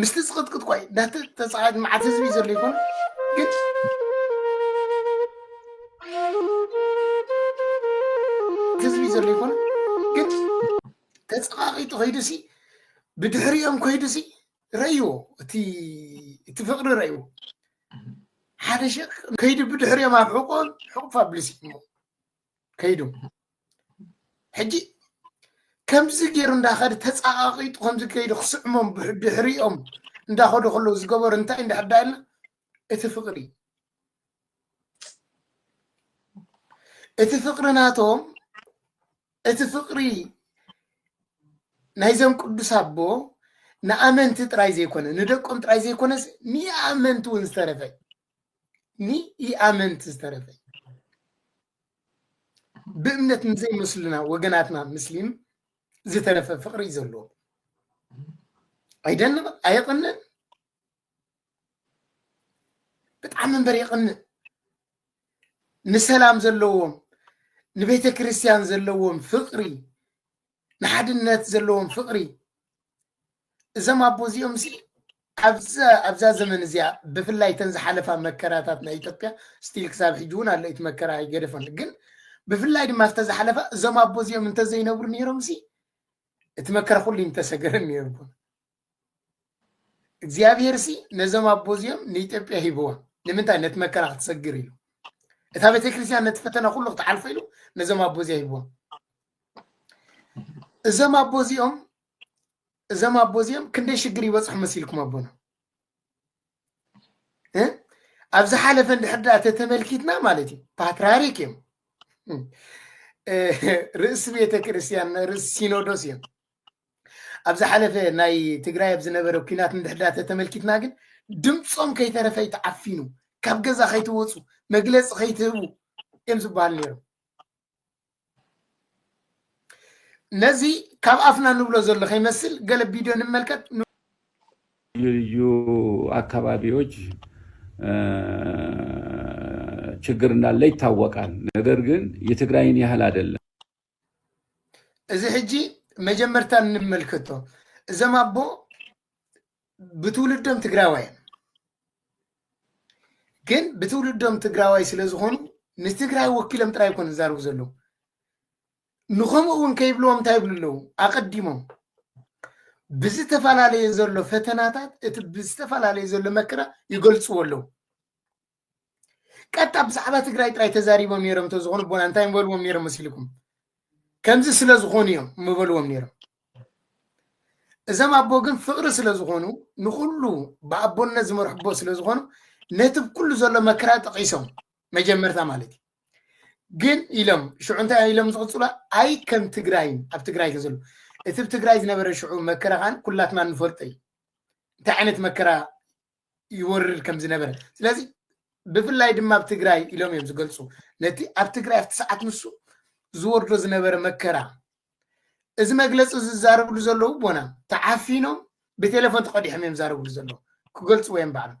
ምስቲ ዝቅጥቅጥ ኳይ ናቲ ተፃዋዒት መዓት ህዝቢ ዘሎ ይኮን ግን ህዝቢ ዘሎ ይኮን ግን ተፀቃቂጡ ከይዱ ሲ ብድሕሪኦም ከይዱ ሲ ረእይዎ እቲ ፍቅሪ ረእይዎ ሓደ ሸ ከይዱ ብድሕሪኦም ኣብ ሕቆን ሕቁፍ ኣብልሲ ከይዱ ሕጂ ከምዚ ገይሩ እንዳኸደ ተፃቃቂጡ ከምዚ ከይዱ ክስዕሞም ድሕሪኦም እንዳኸዱ ከለዉ ዝገበሩ እንታይ እንዳሕዳ ኢልና እቲ ፍቅሪ እቲ ፍቅሪ ናቶም እቲ ፍቅሪ ናይዞም ቅዱስ ኣቦ ንኣመንቲ ጥራይ ዘይኮነ ንደቆም ጥራይ ዘይኮነስ ንኣመንቲ እውን ዝተረፈ ንኢኣመንቲ ዝተረፈ ብእምነት ንዘይመስሉና ወገናትና ምስሊም ዝተረፈ ፍቅሪ እዩ ዘለዎ ኣይደንቕ ኣየቕንን ብጣዕሚ እምበር የቕንን ንሰላም ዘለዎም ንቤተ ክርስቲያን ዘለዎም ፍቅሪ ንሓድነት ዘለዎም ፍቕሪ እዞም ኣቦ እዚኦም ሲ ኣብዛ ዘመን እዚኣ ብፍላይ እተን ዝሓለፋ መከራታት ናይ ኢትዮጵያ ስቲል ክሳብ ሕጂ እውን ኣሎ እቲ መከራ ኣይገደፈን ግን ብፍላይ ድማ ኣብተ ዝሓለፋ እዞም ኣቦ እዚኦም እንተዘይነብሩ ነይሮም ሲ እቲ መከራ ኩሉ እዩ ተሰገረን ነይሩ እግዚኣብሄር ሲ ነዞም ኣቦ እዚኦም ንኢትዮጵያ ሂብዋ ንምንታይ ነቲ መከራ ክትሰግር ኢሉ እታ ቤተክርስትያን ነቲ ፈተና ኩሉ ክትሓልፎ ኢሉ ነዞም ኣቦ እዚኣ ሂብዎም እዞም ኣቦ እዚኦም እዞም ኣቦ እዚኦም ክንደይ ሽግር ይበፅሑ መሲልኩም ኣቦና እ? ኣብ ዝሓለፈ እንድሕር ድኣ ተተመልኪትና ማለት እዩ ፓትርያርክ እዮም እ፣ ርእሲ ቤተክርስትያን ርእሲ ሲኖዶስ እዮም ኣብ ዝሓለፈ ናይ ትግራይ ኣብ ዝነበረ ኩናት እንድሕዳ ተተመልኪትና ግን ድምፆም ከይተረፈ ይተዓፊኑ ካብ ገዛ ከይትወፁ መግለፂ ከይትህቡ እዮም ዝበሃል ነይሮም ነዚ ካብ ኣፍና ንብሎ ዘሎ ከይመስል ገለ ቪድዮ ንመልከት ልዩ ልዩ አካባቢዎች ችግር እንዳለ ይታወቃል። ነገር ግን የትግራይን ያህል አይደለም። እዚ ሕጂ መጀመርታ እንመልከቶ እዞም ኣቦ ብትውልዶም ትግራዋይ እዮም ግን ብትውልዶም ትግራዋይ ስለ ዝኾኑ ንትግራይ ወኪሎም ጥራይ ኮን ዝዛርቡ ዘለዉ ንከምኡ እውን ከይብልዎም እንታይ ይብሉ ኣለዉ ኣቐዲሞም ብዝተፈላለየ ዘሎ ፈተናታት እቲ ብዝተፈላለየ ዘሎ መከራ ይገልፅዎ ኣለዉ ቀጣ ብዛዕባ ትግራይ ጥራይ ተዛሪቦም ነይሮም እንተዝኾኑ ቦና እንታይ ምበልዎም ነይሮም መሲልኩም ከምዚ ስለ ዝኾኑ እዮም ምበልዎም ነይሮም እዞም ኣቦ ግን ፍቕሪ ስለ ዝኾኑ ንኩሉ ብኣቦነት ዝመርሑ ኣቦ ስለ ዝኾኑ ነቲ ኩሉ ዘሎ መከራ ጠቂሶም መጀመርታ ማለት እዩ ግን ኢሎም ሽዑ እንታይ ኢሎም ዝቕፅሉ ኣይ ከም ትግራይ ኣብ ትግራይ ተዘሎ እቲ ብ ትግራይ ዝነበረ ሽዑ መከራ ከዓን ኩላትና ንፈልጦ እዩ እንታይ ዓይነት መከራ ይወርድ ከም ዝነበረ ስለዚ ብፍላይ ድማ ኣብ ትግራይ ኢሎም እዮም ዝገልፁ ነቲ ኣብ ትግራይ ኣብቲ ሰዓት ንሱ ዝወርዶ ዝነበረ መከራ እዚ መግለፂ ዝዛረብሉ ዘለዉ ቦና ተዓፊኖም ብቴሌፎን ተቀዲሖም እዮም ዛረብሉ ዘለዉ ክገልፅዎ እዮም ባዕሎም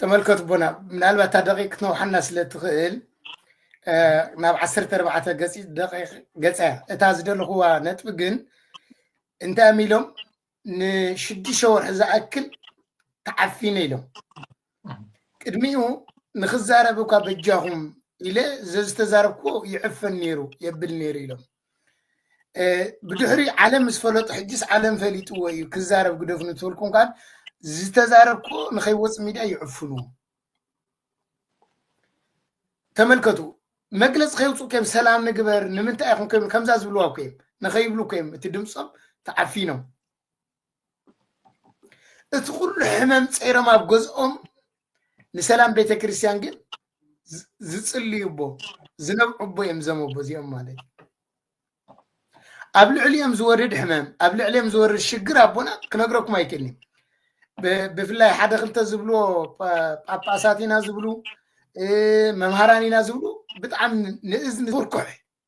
ተመልከቱ ቦና ምናልባት እታ ደቂቅ ክትነውሓና ስለ ትኽእል ናብ ዓሰርተ ኣርባዕተ ገፂ ደቂቅ ገፃ እያ እታ ዝደለኹዋ ነጥቢ ግን እንታይ እዮም ኢሎም ንሽዱሽተ ወርሒ ዝኣክል ተዓፊነ ኢሎም ቅድሚኡ ንክዛረብ እኳ በጃኹም ኢለ ዘዝተዛረብክዎ ይዕፈን ነይሩ የብል ነይሩ ኢሎም ብድሕሪ ዓለም ምስ ፈለጡ ሕጅስ ዓለም ፈሊጥዎ እዩ ክዛረብ ግደፍ ንትብልኩ እንኳን ዝተዛረብኩ ንከይወፅ ሚድያ ይዕፍኑ ተመልከቱ መግለፂ ከይውፅኡ ከዮም ሰላም ንግበር ንምንታይ ኢኹም ከይብሉ ከምዛ ዝብልዋ እኮ እዮም ንከይብሉ እኮ እዮም እቲ ድምፆም ተዓፊኖም እቲ ኩሉ ሕመም ፀይሮም ኣብ ገዝኦም ንሰላም ቤተ ክርስቲያን ግን ዝ- ዝጽልዩ ኣቦ ዝነብዑ ኣቦ እዮም እዞም ኣቦ እዚኦም ማለት እዩ። ኣብ ልዕሊኦም ዝወርድ ሕመም ኣብ ልዕሊኦም ዝወርድ ሽግር ኣቦና ክነግረኩም ኣይክእልን እዩ። ብ- ብፍላይ ሓደ ክልተ ዝብልዎ ጳ- ጳጳሳት ኢና ዝብሉ እ፣ መምሃራን ኢና ዝብሉ ብጣዕሚ ንእዝኒ ዝኩርኩሕ እዩ።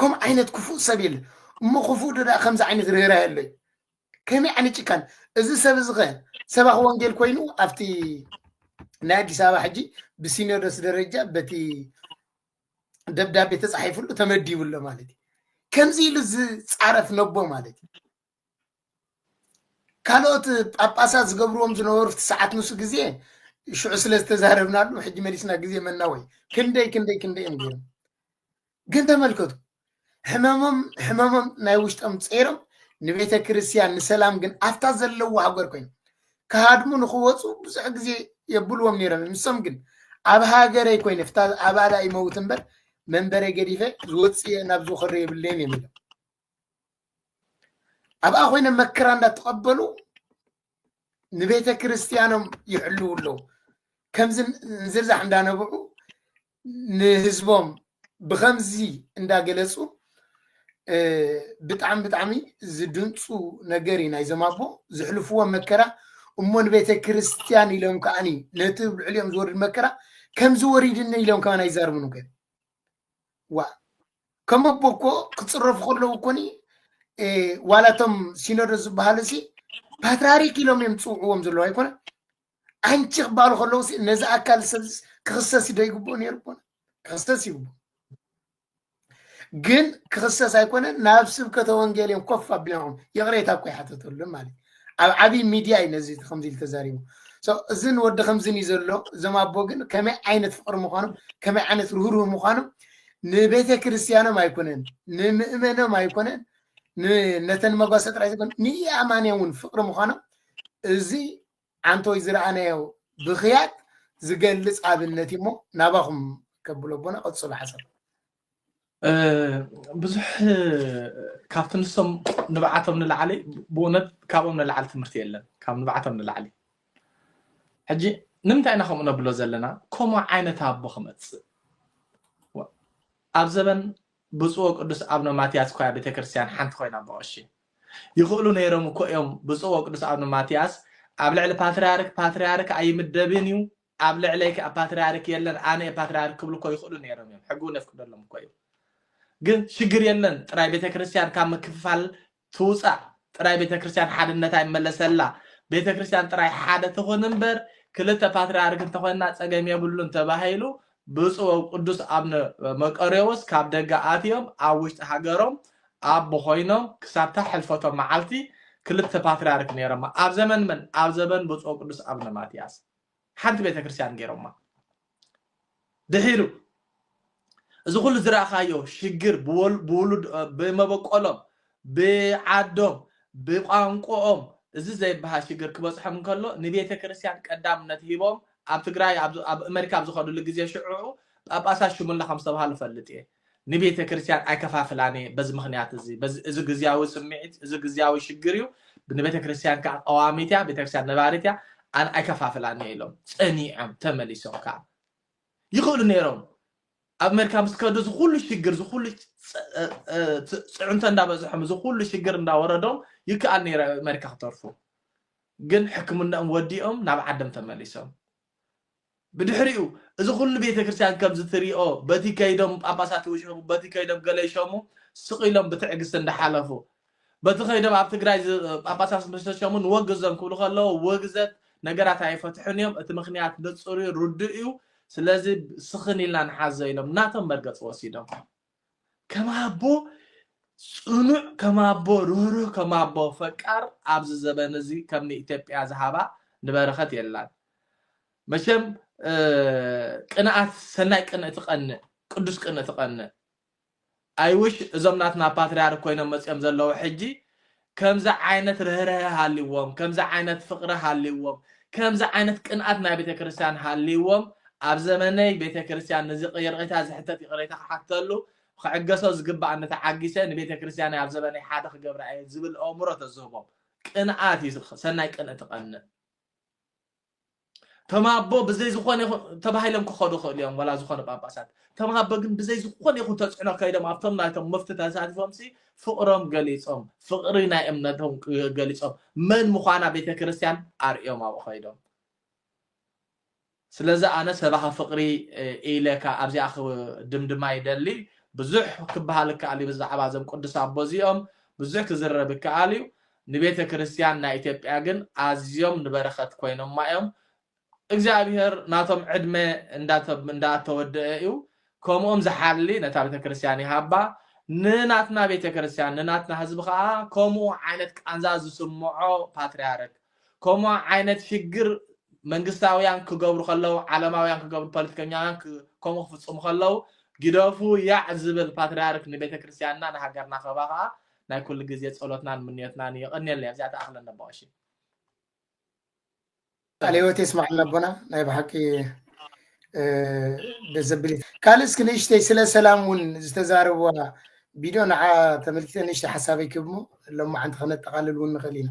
ከምኡ ዓይነት ክፉእ ሰብ የለ እሞ ክፉእ ዶ ደኣ ከምዚ ዓይነት ርህራሄ ኣሎ እዩ ከመይ ዓይነት ጭካን እዚ ሰብ እዚ ከ ሰባኺ ወንጌል ኮይኑ ኣብቲ ናይ ኣዲስ ኣበባ ሕጂ ብሲኖዶስ ደረጃ በቲ ደብዳቤ ተፃሒፍሉ ተመዲቡ ኣሎ ማለት እዩ ከምዚ ኢሉ ዝፃረፍ ነቦ ማለት እዩ ካልኦት ጳጳሳት ዝገብርዎም ዝነበሩ እቲ ሰዓት ንሱ ግዜ ሽዑ ስለ ዝተዛረብናሉ ሕጂ መሊስና ግዜ መናወይ ክንደይ ክንደይ ክንደይ እዮም ገይሮም ግን ተመልከቱ ሕመሞም ሕመሞም ናይ ውሽጦም ፀይሮም ንቤተ ክርስቲያን ንሰላም ግን ኣብታ ዘለዎ ሃገር ኮይኑ ክሃድሙ ንክወፁ ብዙሕ ግዜ የብልዎም ነይሮም እዮም። ንሶም ግን ኣብ ሃገረይ ኮይነ ፍታ ኣባላ ይመውት እምበር መንበረይ ገዲፈ ዝወፅእ ናብ ዝኸዶ የብለይን እዮም ኢሎም ኣብኣ ኮይኖም መከራ እንዳተቐበሉ ንቤተ ክርስቲያኖም ይሕልው ኣለዉ ከምዚ ዝርዛሕ እንዳነበዑ ንህዝቦም ብከምዚ እንዳገለፁ ብጣዕሚ ብጣዕሚ ዝድንፁ ነገር እዩ ናይዞም ኣቦ ዝሕልፍዎ መከራ እሞ ንቤተ ክርስቲያን ኢሎም ከዓኒ ነቲ ልዕሊኦም ዝወርድ መከራ ከምዚ ወሪድኒ ኢሎም ከማን ኣይዛርቡን ገ ዋእ ከም ኣቦ እኮ ክፅረፉ ከለዉ እኮኒ እ፣ ዋላ እቶም ሲኖዶስ ዝበሃሉ ሲ ፓትርያርክ ኢሎም እዮም ዝፅውዕዎም ዘለዉ ኣይኮነ ኣንቺ ክበሃሉ ከለዉ ሲ ነዚ ኣካል ሰብ ክኽሰስ ዶ ይግብኦ ነይሩ ኮነ ክኽሰስ ይግብኦ ግን ክኽሰስ ኣይኮነን ናብ ስብከተ ወንጌል እዮም ኮፍ ኣቢሎም ይቕሬታ እኮ ይሓተተሉም ማለት እዩ። ኣብ ዓብይ ሚድያ እዩ ነዚ ከምዚ ኢሉ ተዛሪቡ ሰው እዝን ወዲ ከምዝን እዩ ዘሎ እዞም ኣቦ ግን ከመይ ዓይነት ፍቅሪ ምዃኖም ከመይ ዓይነት ርህሩህ ምዃኖም ንቤተ ክርስቲያኖም ኣይኮነን ንምእመኖም ኣይኮነን ን- ነተን መጓሰ ጥራይ ዘይኮነ ንኢኣማንያ እውን ፍቅሪ ምዃኖም እዚ ዓንተወይ ዝረኣናዮ ብክያት ዝገልፅ ኣብነት እዩ እሞ ናባኹም ከብሎ ኣቦና ቀፅሉ ሓሳብ ብዙሕ ካብቲ ንሶም ንብዓቶም ንላዕሊ ብእውነት ካብኦም ንላዕሊ ትምህርቲ የለን ካብ ንብዓቶም ንላዕሊ ሕጂ ንምንታይ ኢና ከምኡ ነብሎ ዘለና ከምኡ ዓይነት ኣቦ ክመፅእ ኣብ ዘበን ብፁዕ ቅዱስ ኣብነ ማትያስ እኳ ቤተ ክርስቲያን ሓንቲ ኮይና ብቐሺ ይኽእሉ ነይሮም እኮ እዮም ብፁዕ ቅዱስ ኣብነ ማትያስ ኣብ ልዕሊ ፓትርያርክ ፓትርያርክ ኣይምደብን እዩ ኣብ ልዕለይ ከኣ ፓትርያርክ የለን ኣነ እየ ፓትርያርክ ክብሉ እኮ ይኽእሉ ነይሮም እዮም ሕጊ እውን የፍቅደሎም እኮ እዩ ግን ሽግር የለን ጥራይ ቤተክርስትያን ካብ ምክፍፋል ትውጻእ ጥራይ ቤተክርስትያን ሓድነታ ይመለሰላ ቤተክርስትያን ጥራይ ሓደ ትኹን እምበር ክልተ ፓትርያርክ እንተኾይና ጸገም የብሉን ተባሂሉ ብፁዕ ወቅዱስ ኣብነ መቀሬዎስ ካብ ደገ ኣትዮም ኣብ ውሽጢ ሃገሮም ኣቦ ኮይኖም ክሳብታ ሕልፈቶም መዓልቲ ክልተ ፓትርያርክ ነይሮማ ኣብ ዘመን መን ኣብ ዘበን ብፁዕ ወቅዱስ ኣብነ ማትያስ ሓንቲ ቤተክርስትያን ገይሮማ። ድሒሩ እዚ ኩሉ ዝረኣኻዮ ሽግር ብመበቆሎም ብዓዶም ብቋንቁኦም እዚ ዘይበሃል ሽግር ክበጽሖም እንከሎ ንቤተክርስትያን ቀዳምነት ሂቦም ኣብ ትግራይ ኣብ ኣመሪካ ኣብ ዝኸድሉ ግዜ ሽዑዑ ጳጳሳት ሽሙላ ከም ዝተብሃሉ እፈልጥ እየ። ንቤተ ክርስቲያን ኣይከፋፍላን እየ በዚ ምክንያት እዚ እዚ ግዝያዊ ስምዒት እዚ ግዝያዊ ሽግር እዩ ንቤተ ክርስቲያን ከዓ ቀዋሚት እያ ቤተ ክርስቲያን ነባሪት እያ ኣነ ኣይከፋፍላን እየ ኢሎም ፀኒዖም ተመሊሶም ከዓ ይኽእሉ ነይሮም ኣብ ኣሜሪካ ምስ ከዱ እዚ ኩሉ ሽግር እዚ ኩሉ ፅዕንቶ እንዳበዝሖም እዚ ኩሉ ሽግር እንዳወረዶም ይከኣል ነይረ ኣሜሪካ ክተርፉ ግን ሕክምናኦም ወዲኦም ናብ ዓዶም ተመሊሶም ብድሕሪኡ እዚ ኩሉ ቤተ ክርስትያን ከምዚ ትሪኦ በቲ ከይዶም ጳጳሳት ይውሸቡ በቲ ከይዶም ገለ ይሸሙ ስቅ ኢሎም ብትዕግስቲ እንዳሓለፉ በቲ ከይዶም ኣብ ትግራይ ጳጳሳት ምስ ተሸሙ ንወግዞም ክብሉ ከለዉ ውግዘት ነገራት ኣይፈትሑን እዮም እቲ ምክንያት ንጹር እዩ ርዱእ እዩ ስለዚ ስኽን ኢልና ንሓዞ ኢሎም ናቶም መርገጽ ወሲዶም ከም ኣቦ ጽኑዕ ከም ኣቦ ርህሩህ ከም ኣቦ ፈቃር ኣብዚ ዘበን እዚ ከም ንኢትዮጵያ ዝሃባ ንበረኸት የላን መቸም ቅንኣት ሰናይ ቅንእ ትቀንእ ቅዱስ ቅንእ ትቀንእ ኣይውሽ እዞም ናትና ፓትርያርክ ኮይኖም መጽኦም ዘለዉ ሕጂ ከምዚ ዓይነት ርህርሀ ሃልይዎም ከምዚ ዓይነት ፍቅሪ ሃልይዎም ከምዚ ዓይነት ቅንኣት ናይ ቤተክርስትያን ሃልይዎም ኣብ ዘመነይ ቤተክርስትያን ንዝቅይርቅይታ ዝሕተት ይቅሬታ ክሓተሉ ክዕገሶ ዝግበኣኒ ተዓጊሰ ንቤተክርስትያነይ ኣብ ዘበነይ ሓደ ክገብራ እየ ዝብል ኦእምሮ ተዝህቦም ቅንኣት እዩ ሰናይ ቅንእቲ ቀንእ ተማቦ ብዘይ ዝኾነ ይኹን ተባሂሎም ክኸዱ ይኽእሉ እዮም ዋላ ዝኾነ ጳጳሳት ተማቦ ግን ብዘይ ዝኾነ ይኹን ተፅዕኖ ከይዶም ኣብቶም ናይቶም መፍቲ ተሳቲፎም ሲ ፍቕሮም ገሊፆም ፍቕሪ ናይ እምነቶም ገሊፆም መን ምዃና ቤተ ክርስቲያን ኣርእዮም ኣብኡ ከይዶም ስለዚ ኣነ ሰባኺ ፍቕሪ ኢለካ ኣብዚኣ ድምድማ ይደሊ ብዙሕ ክበሃል ይከኣል እዩ ብዛዕባ እዞም ቅዱስ ኣቦ እዚኦም ብዙሕ ክዝረብ ይከኣል እዩ ንቤተ ክርስትያን ናይ ኢትዮጵያ ግን ኣዝዮም ንበረኸት ኮይኖማ እዮም እግዚኣብሔር ናቶም ዕድመ እንዳተወደኤ እዩ ከምኦም ዝሓሊ ነታ ቤተ ክርስትያን ይሃባ ንናትና ቤተ ክርስትያን ንናትና ህዝቢ ከኣ ከምኡ ዓይነት ቃንዛ ዝስምዖ ፓትርያርክ ከምኡ ዓይነት ሽግር መንግስታውያን ክገብሩ ከለው ዓለማውያን ክገብሩ ፖለቲከኛውያን ከምኡ ክፍጽሙ ከለው ግደፉ ያዕ ዝብል ፓትርያርክ ንቤተ ክርስትያንና ንሃገርና ከባ ከኣ ናይ ኩሉ ግዜ ጸሎትናን ምንዮትናን እዩ የቐንየልና ኣብዚኣ ተኣኽለና ኣቦቐሺ ቃል ህይወት የስማዕልና ኣቦና ናይ ብሓቂ ደስ ዘብል እዩ ካልእ እስኪ ንእሽተይ ስለ ሰላም እውን ዝተዛረብዋ ቪድዮ ንዓ ተመልኪተ ንእሽተይ ሓሳበይ ክብሞ ሎማዓንቲ ከነጠቃልል እውን ንኽእል ኢና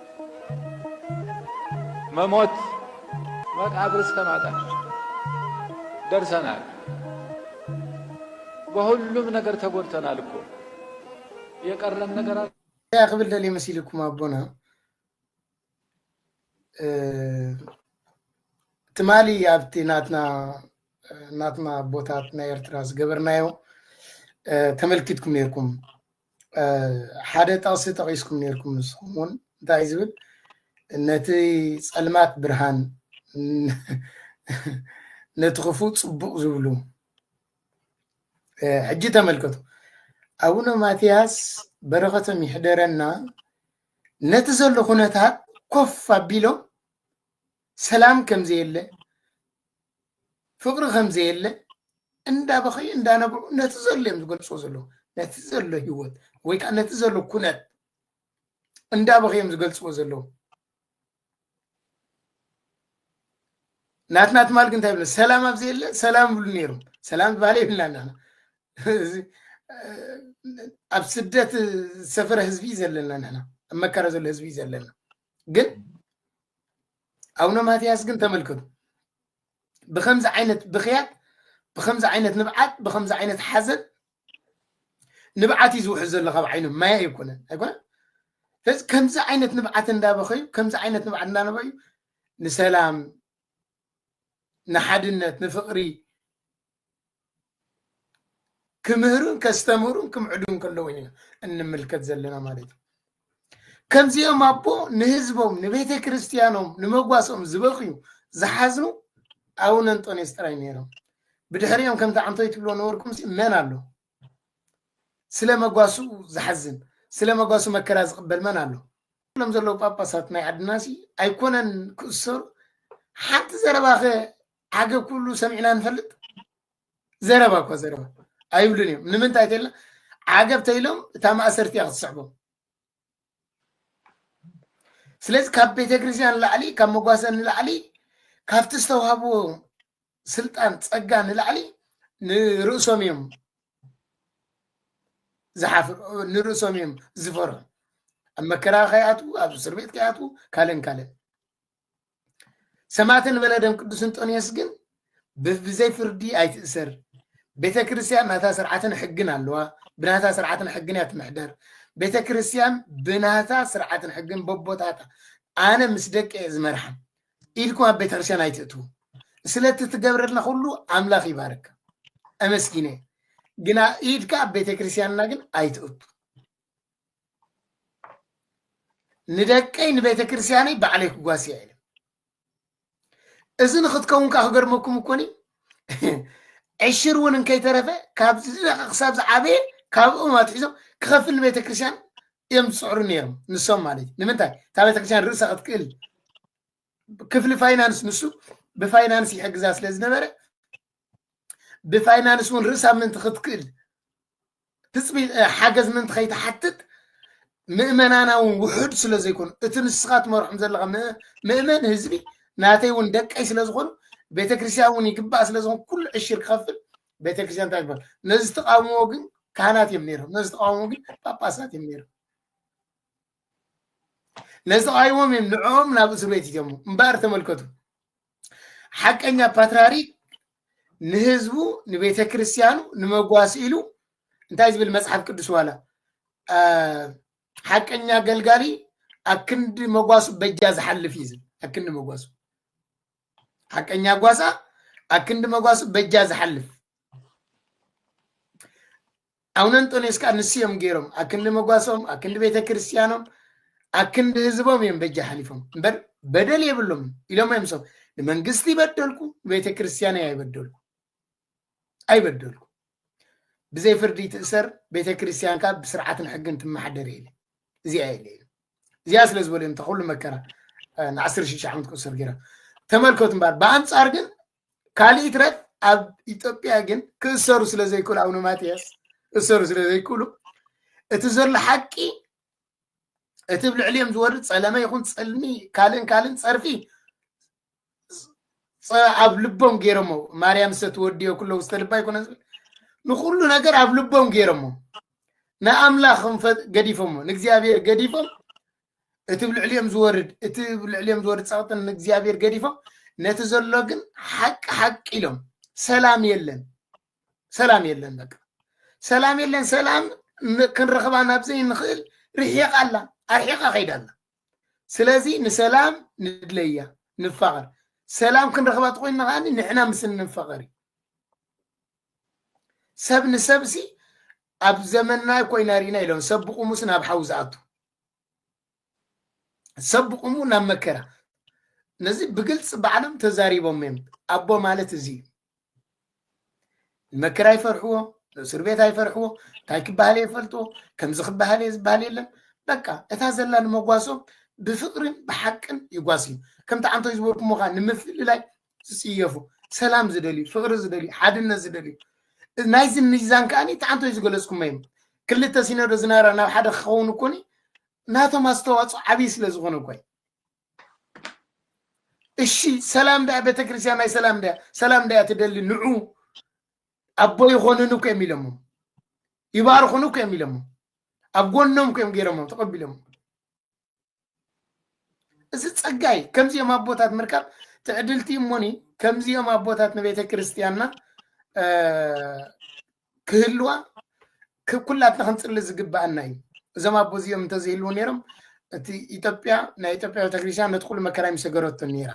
መሞት መቃብር ሰማእታት ደርሰናል። በሁሉም ነገር ተጎድተናል እኮ የቀረን ነገር አለ? እንታይ ክብል ደልየ መሲልኩም ኣቦና እ፣ ትማሊ ኣብቲ ናትና ናትና ኣቦታት ናይ ኤርትራ ዝገበርናዮ እ፣ ተመልኪትኩም ነይርኩም ሓደ ጠቕሲ ጠቒስኩም ነርኩም ንስኹም እውን እንታይ ዝብል ነቲ ፀልማት ብርሃን ነቲ ክፉ ፅቡቕ ዝብሉ ሕጂ ተመልከቱ ኣቡነ ማትያስ በረኸቶም ይሕደረና ነቲ ዘሎ ኩነታት ኮፍ ኣቢሎም ሰላም ከምዘየለ ፍቅሪ ከምዘየለ እንዳበኸዩ እንዳነብዑ ነቲ ዘሎ እዮም ዝገልፅዎ ዘለዉ ነቲ ዘሎ ሂወት ወይ ከዓ ነቲ ዘሎ ኩነት እንዳበኸዩ እዮም ዝገልፅዎ ዘለዉ ናትና ትማል ግን እንታይ ብለ ሰላም ኣብ ዘየለ ሰላም ይብሉ ነይሮም ሰላም ዝበሃለ ይብልና ናና ኣብ ስደት ዝሰፈረ ህዝቢ እዩ ዘለና ንሕና ኣብ መከራ ዘሎ ህዝቢ እዩ ዘለና ግን ኣቡነ ማትያስ ግን ተመልከቱ ብከምዚ ዓይነት ብክያት ብከምዚ ዓይነት ንብዓት ብከምዚ ዓይነት ሓዘን ንብዓት እዩ ዝውሕዝ ዘሎ ካብ ዓይኖም ማያ ኣይኮነን ኣይኮነ ስለዚ ከምዚ ዓይነት ንብዓት እንዳበኸዩ ከምዚ ዓይነት ንብዓት እንዳነበዩ ንሰላም ንሓድነት ንፍቕሪ ክምህሩን ከስተምህሩን ክምዕዱን ከለዉ ኢና እንምልከት ዘለና ማለት እዩ ከምዚኦም ኣቦ ንህዝቦም ንቤተ ክርስቲያኖም ንመጓሶም ዝበኽዩ ዝሓዝኑ ኣቡነ እንጦንዮስ ጥራይ ነይሮም ብድሕሪኦም ከምቲ ዓንቶይ ትብሎ ነበርኩም መን ኣሎ ስለ መጓሱ ዝሓዝን ስለ መጓሱ መከራ ዝቕበል መን ኣሎ? ሎም ዘለዉ ጳጳሳት ናይ ዓድና ሲ ኣይኮነን ክእሰሩ ሓንቲ ዘረባኸ ዓገብ ክብሉ ሰሚዕና ንፈልጥ? ዘረባ እኳ ዘረባ ኣይብሉን እዮም። ንምንታይ ተኢልና ዓገብ ተኢሎም እታ ማእሰርቲ እያ ክትስዕቦም። ስለዚ ካብ ቤተክርስትያን ንላዕሊ ካብ መጓሰ ንላዕሊ ካብቲ ዝተዋህብዎ ስልጣን ፀጋ ንላዕሊ ንርእሶም እዮም ዝሓፍር ንርእሶም እዮም ዝፈርሑ ኣብ መከራ ከይኣትዉ ኣብ እስር ቤት ከይኣትዉ ካልእን ካልእን ሰማዕት ንበለ ደም ቅዱስ እንጦንዮስ ግን ብዘይ ፍርዲ ኣይትእሰር ቤተ ክርስቲያን ናታ ስርዓትን ሕግን ኣለዋ ብናታ ስርዓትን ሕግን እያ ትምሕደር ቤተ ክርስቲያን ብናታ ስርዓትን ሕግን በቦታታ ኣነ ምስ ደቂ እየ ዝመርሓ ኢድኩም ኣብ ቤተ ክርስቲያን ኣይትእትዉ ስለቲ ትገብረልና ኩሉ ኣምላኽ ይባርካ ኣመስጊነ ግና ኢድካ ኣብ ቤተ ክርስቲያንና ግን ኣይትእቱ ንደቀይ ንቤተ ክርስቲያነይ ባዕለይ ክጓሲ እየ ኢለ እዚ ንክትከውን ከዓ ክገርመኩም እኮኒ ዕሽር እውን እንከይተረፈ ካብ ዝደቀ ክሳብ ዝዓበየ ካብኦም ኣትሒዞም ክኸፍል ንቤተ ክርስቲያን እዮም ዝፅዕሩ ነይሮም ንሶም ማለት እዩ ንምንታይ እታ ቤተ ክርስቲያን ርእሳ ክትክእል ክፍሊ ፋይናንስ ንሱ ብፋይናንስ ይሕግዛ ስለ ዝነበረ ብፋይናንስ እውን ርእሳ ምእንቲ ክትክእል ትፅቢ ሓገዝ ምእንቲ ከይትሓትት ምእመናና እውን ውሑድ ስለ ዘይኮኑ እቲ ንስኻ ትመርሖም ዘለኻ ምእመን ህዝቢ ናተይ እውን ደቀይ ስለ ዝኾኑ ቤተክርስትያን እውን ይግባእ ስለ ዝኾኑ ኩሉ ዕሽር ክኸፍል ቤተክርስትያን እንታይ ይበሃል ነዚ ተቃውሞ ግን ካህናት እዮም ነይሮም ነዚ ተቃውሞ ግን ጳጳሳት እዮም ነይሮም ነስቓይዎም እዮም ንዕኦም ናብ እስር ቤት ይትሞ እምበኣር ተመልከቱ ሓቀኛ ፓትርያርክ ንህዝቡ ንቤተ ክርስቲያኑ ንመጓስ ኢሉ እንታይ ዝብል መፅሓፍ ቅዱስ ዋላ አ፣ ሓቀኛ ኣገልጋሊ ኣክንዲ መጓሱ በጃ ዝሓልፍ እዩ ዝብል ኣክንዲ መጓሱ ሓቀኛ ጓሳ ኣክንዲ መጓሱ በጃ ዝሓልፍ ኣቡነ እንጦንዮስ ከዓ ንሱ እዮም ገይሮም ኣክንዲ መጓሶም ኣክንዲ ቤተ ክርስቲያኖም ኣክንዲ ህዝቦም እዮም በጃ ሓሊፎም እምበር በደል የብሎም ኢሎም እዮም ሰው ንመንግስቲ ይበደልኩ ንቤተ ክርስቲያን ኣይበደልኩ ኣይበደልኩ ብዘይ ፍርዲ ትእሰር ቤተ ክርስቲያንካ ብስርዓትን ሕግን ትመሓደር የለ እዚኣ የለ እዚኣ ስለ ዝበሉ እዮም ተኩሉ መከራ ንዓስር ሽዱሽተ ዓመት ክእሰር ገይሮም ተመልከቱ እምበር ብኣንፃር ግን ካልእ ይትረፍ ኣብ ኢትዮጵያ ግን ክእሰሩ ስለ ዘይክእሉ ኣቡነ ማትያስ ክእሰሩ ስለ ዘይክእሉ እቲ ዘሎ ሓቂ እቲ ብ ልዕሊኦም ዝወርድ ፀለመ ይኹን ፀልሚ ካልእን ካልእን ፀርፊ ኣብ ልቦም ገይሮሞ ማርያም ሰትወድዮ ኩሎ ውስተ ልባ ይኮነ ዝብል ንኩሉ ነገር ኣብ ልቦም ገይሮሞ ንኣምላኽ ገዲፎሞ ንእግዚኣብሔር ገዲፎም እቲ ብ ልዕሊኦም ዝወርድ እቲ ብ ልዕሊኦም ዝወርድ ጸቕጢ ን እግዚኣብሄር ገዲፎም ነቲ ዘሎ ግን ሓቂ ሓቂ ኢሎም ሰላም የለን ሰላም የለን በቃ ሰላም የለን ሰላም ን- ክንረኽባ ናብ ዘይንኽእል ርሒቓ ኣላ ኣርሒቓ ከይዳ ኣላ ስለዚ ንሰላም ንድለያ ንፋቐር ሰላም ክንረኽባ ተኮይንና ከዓኒ ንሕና ምስ እንፋቐር እዩ ሰብ ንሰብሲ ኣብ ዘመንና ኮይና ርኢና ኢሎም ሰብ ብቑሙስ ናብ ሓዊ ዝኣቱ ሰብ ብቑሙ ናብ መከራ ነዚ ብግልፂ ባዕሎም ተዛሪቦም እዮም ኣቦ ማለት እዚ እዩ ንመከራ ይፈርሕዎ ንእስር ቤት ኣይፈርሕዎ እንታይ ክበሃል እየ ፈልጥዎ ከምዚ ክበሃል እየ ዝበሃል የለን በቃ እታ ዘላ ንመጓሶም ብፍቅርን ብሓቅን ይጓስ እዩ ከምቲ ዓንቶ ዝበልኩሞ ከዓ ንምፍልላይ ዝፅየፉ ሰላም ዝደልዩ ፍቅሪ ዝደልዩ ሓድነት ዝደልዩ ናይዚ ሚዛን ከዓኒ ተዓንቶይ ዝገለፅኩሞ እዮም ክልተ ሲኖዶ ዝነበረ ናብ ሓደ ክኸውን እኮኒ ናቶም ኣስተዋፅኦ ዓብዪ ስለ ዝኾነ እኮ እዩ እሺ ሰላም ዳያ ቤተክርስትያን ናይ ሰላም ዳያ ሰላም ዳያ ትደሊ ንዑ ኣቦ ይኾንን እኮ እዮም ኢሎሞ ይባርኹን እኮ እዮም ኢሎሞ ኣብ ጎኖም እኮ እዮም ገይሮሞም ተቐቢሎሞ እዚ ጸጋ እዩ ከምዚኦም ኣቦታት ምርካብ ትዕድልቲ እሞኒ ከምዚኦም ኣቦታት ንቤተ ክርስቲያንና እ፣ ክህልዋ ክ- ኩላትና ክንጽሊ ዝግባኣና እዩ እዞም ኣቦ እዚኦም እንተዘይህልው ነይሮም እቲ ኢትዮጵያ ናይ ኢትዮጵያ ቤተክርስትያን ነቲ ኩሉ መከራ ይምሰገረቶ ነይራ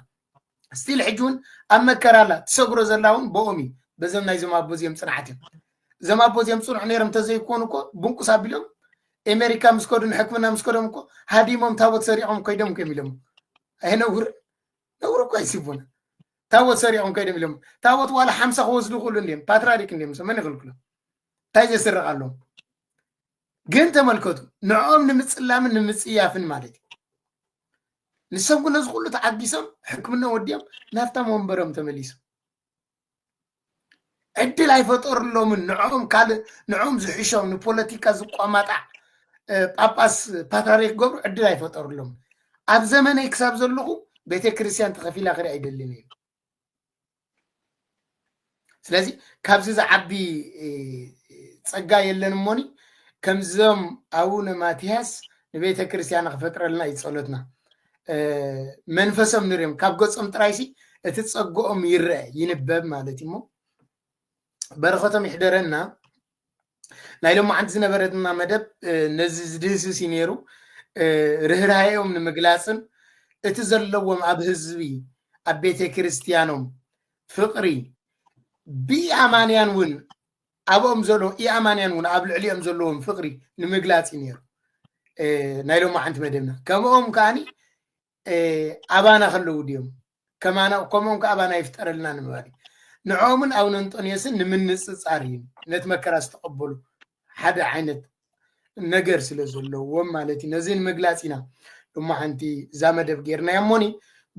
ስቲል ሕጂ እውን ኣብ መከራ ኣላ ትሰግሮ ዘላ እውን ብኦም እዩ በዘም ናይዞም ኣቦ እዚኦም ፅንዓት እዮም እዞም ኣቦ እዚኦም ፅኑዕ ነይሮም እንተዘይኮኑ እኮ ብንቁስ ኣቢሎም ኤሜሪካ ምስ ከዱ ንሕክምና ምስ ከዶም እኮ ሃዲሞም ታቦት ሰሪዖም ከይዶም እኮ ኢሎም ኣይነውር ነውር እኮ ይስቡና ታቦት ሰሪዖም ከይዶም ኢሎም ታቦት ዋላ ሓምሳ ክወስዱ ይኽእሉ እንዲም ፓትራሪክ እንዲም መን ይኽልክሎም እንታይ ዘስርቕ ኣለዎም ግን ተመልከቱ ንዕኦም ንምፅላምን ንምፅያፍን ማለት እዩ ንሰብ ኩነ እዚ ኩሉ ተዓጊሶም ሕክምና ወዲኦም ናፍታም ወንበሮም ተመሊሶም ዕድል ኣይፈጠሩሎምን ንዕኦም ካልእ ንዕኦም ዝሕሾም ንፖለቲካ ዝቋማጣዕ ጳጳስ ፓትራሪክ ገብሩ ዕድል ኣይፈጠሩሎምን ኣብ ዘመነይ ክሳብ ዘለኹ ቤተ ክርስቲያን ተኸፊላ ክርኢ ኣይደልን እዩ ስለዚ ካብዚ ዝዓቢ ጸጋ የለን እሞኒ ከምዞም ኣቡነ ማትያስ ንቤተ ክርስቲያን ክፈጥረልና እዩ ጸሎትና መንፈሶም ንርዮም ካብ ገጾም ጥራይሲ እቲ ጸግኦም ይረአ ይንበብ ማለት እዩሞ በረኸቶም ይሕደረና ናይ ሎማዓንቲ ዝነበረትና መደብ ነዚ ዝድህስስ እዩ ነይሩ ርህራሄኦም ንምግላፅን እቲ ዘለዎም ኣብ ህዝቢ ኣብ ቤተ ክርስቲያኖም ፍቅሪ ብኢኣማንያን እውን ኣብኦም ዘሎ ኢኣማንያን እውን ኣብ ልዕሊኦም ዘለዎም ፍቅሪ ንምግላፅ እዩ ነይሩ ናይ ሎማዓንቲ መደብና ከምኦም ከዓኒ ኣባና ከለዉ ድዮም ከማና ከምኦም ከዓ ኣባና ይፍጠረልና ንምባል እዩ። ንዕኦምን ኣቡነ እንጦንዮስን ንምንፅፃር እዩ። ነቲ መከራ ዝተቐበሉ ሓደ ዓይነት ነገር ስለ ዘለዎም ማለት እዩ። ነዚ ንምግላፅ ኢና እሞ ሓንቲ እዛ መደብ ጌርናያ እሞኒ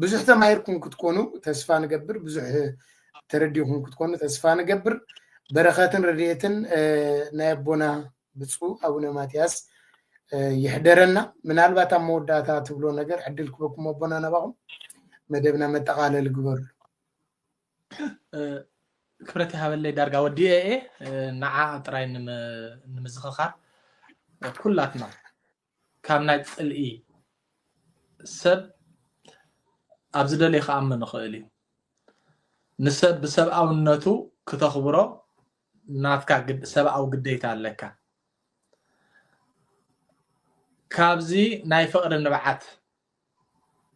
ብዙሕ ተማሂርኩም ክትኮኑ ተስፋ ንገብር፣ ብዙሕ ተረዲኹም ክትኮኑ ተስፋ ንገብር። በረኸትን ረድኤትን ናይ ኣቦና ብፁእ ኣቡነ ማትያስ ይሕደረና ምናልባት ኣብ መወዳእታ ትብሎ ነገር ዕድል ክበኩም ኣቦና ናባኹም መደብና መጠቃለሊ ግበርሉ ክብረት ይሃበለይ ዳርጋ ወዲኤ እየ ንዓ ጥራይ ንምዝኽኻር ኩላትና ካብ ናይ ጽልኢ ሰብ ኣብ ዝደልየ ክኣምን ይኽእል እዩ ንሰብ ብሰብኣውነቱ ክተኽብሮ ናትካ ሰብኣዊ ግዴታ ኣለካ ካብዚ ናይ ፍቕሪ ንብዓት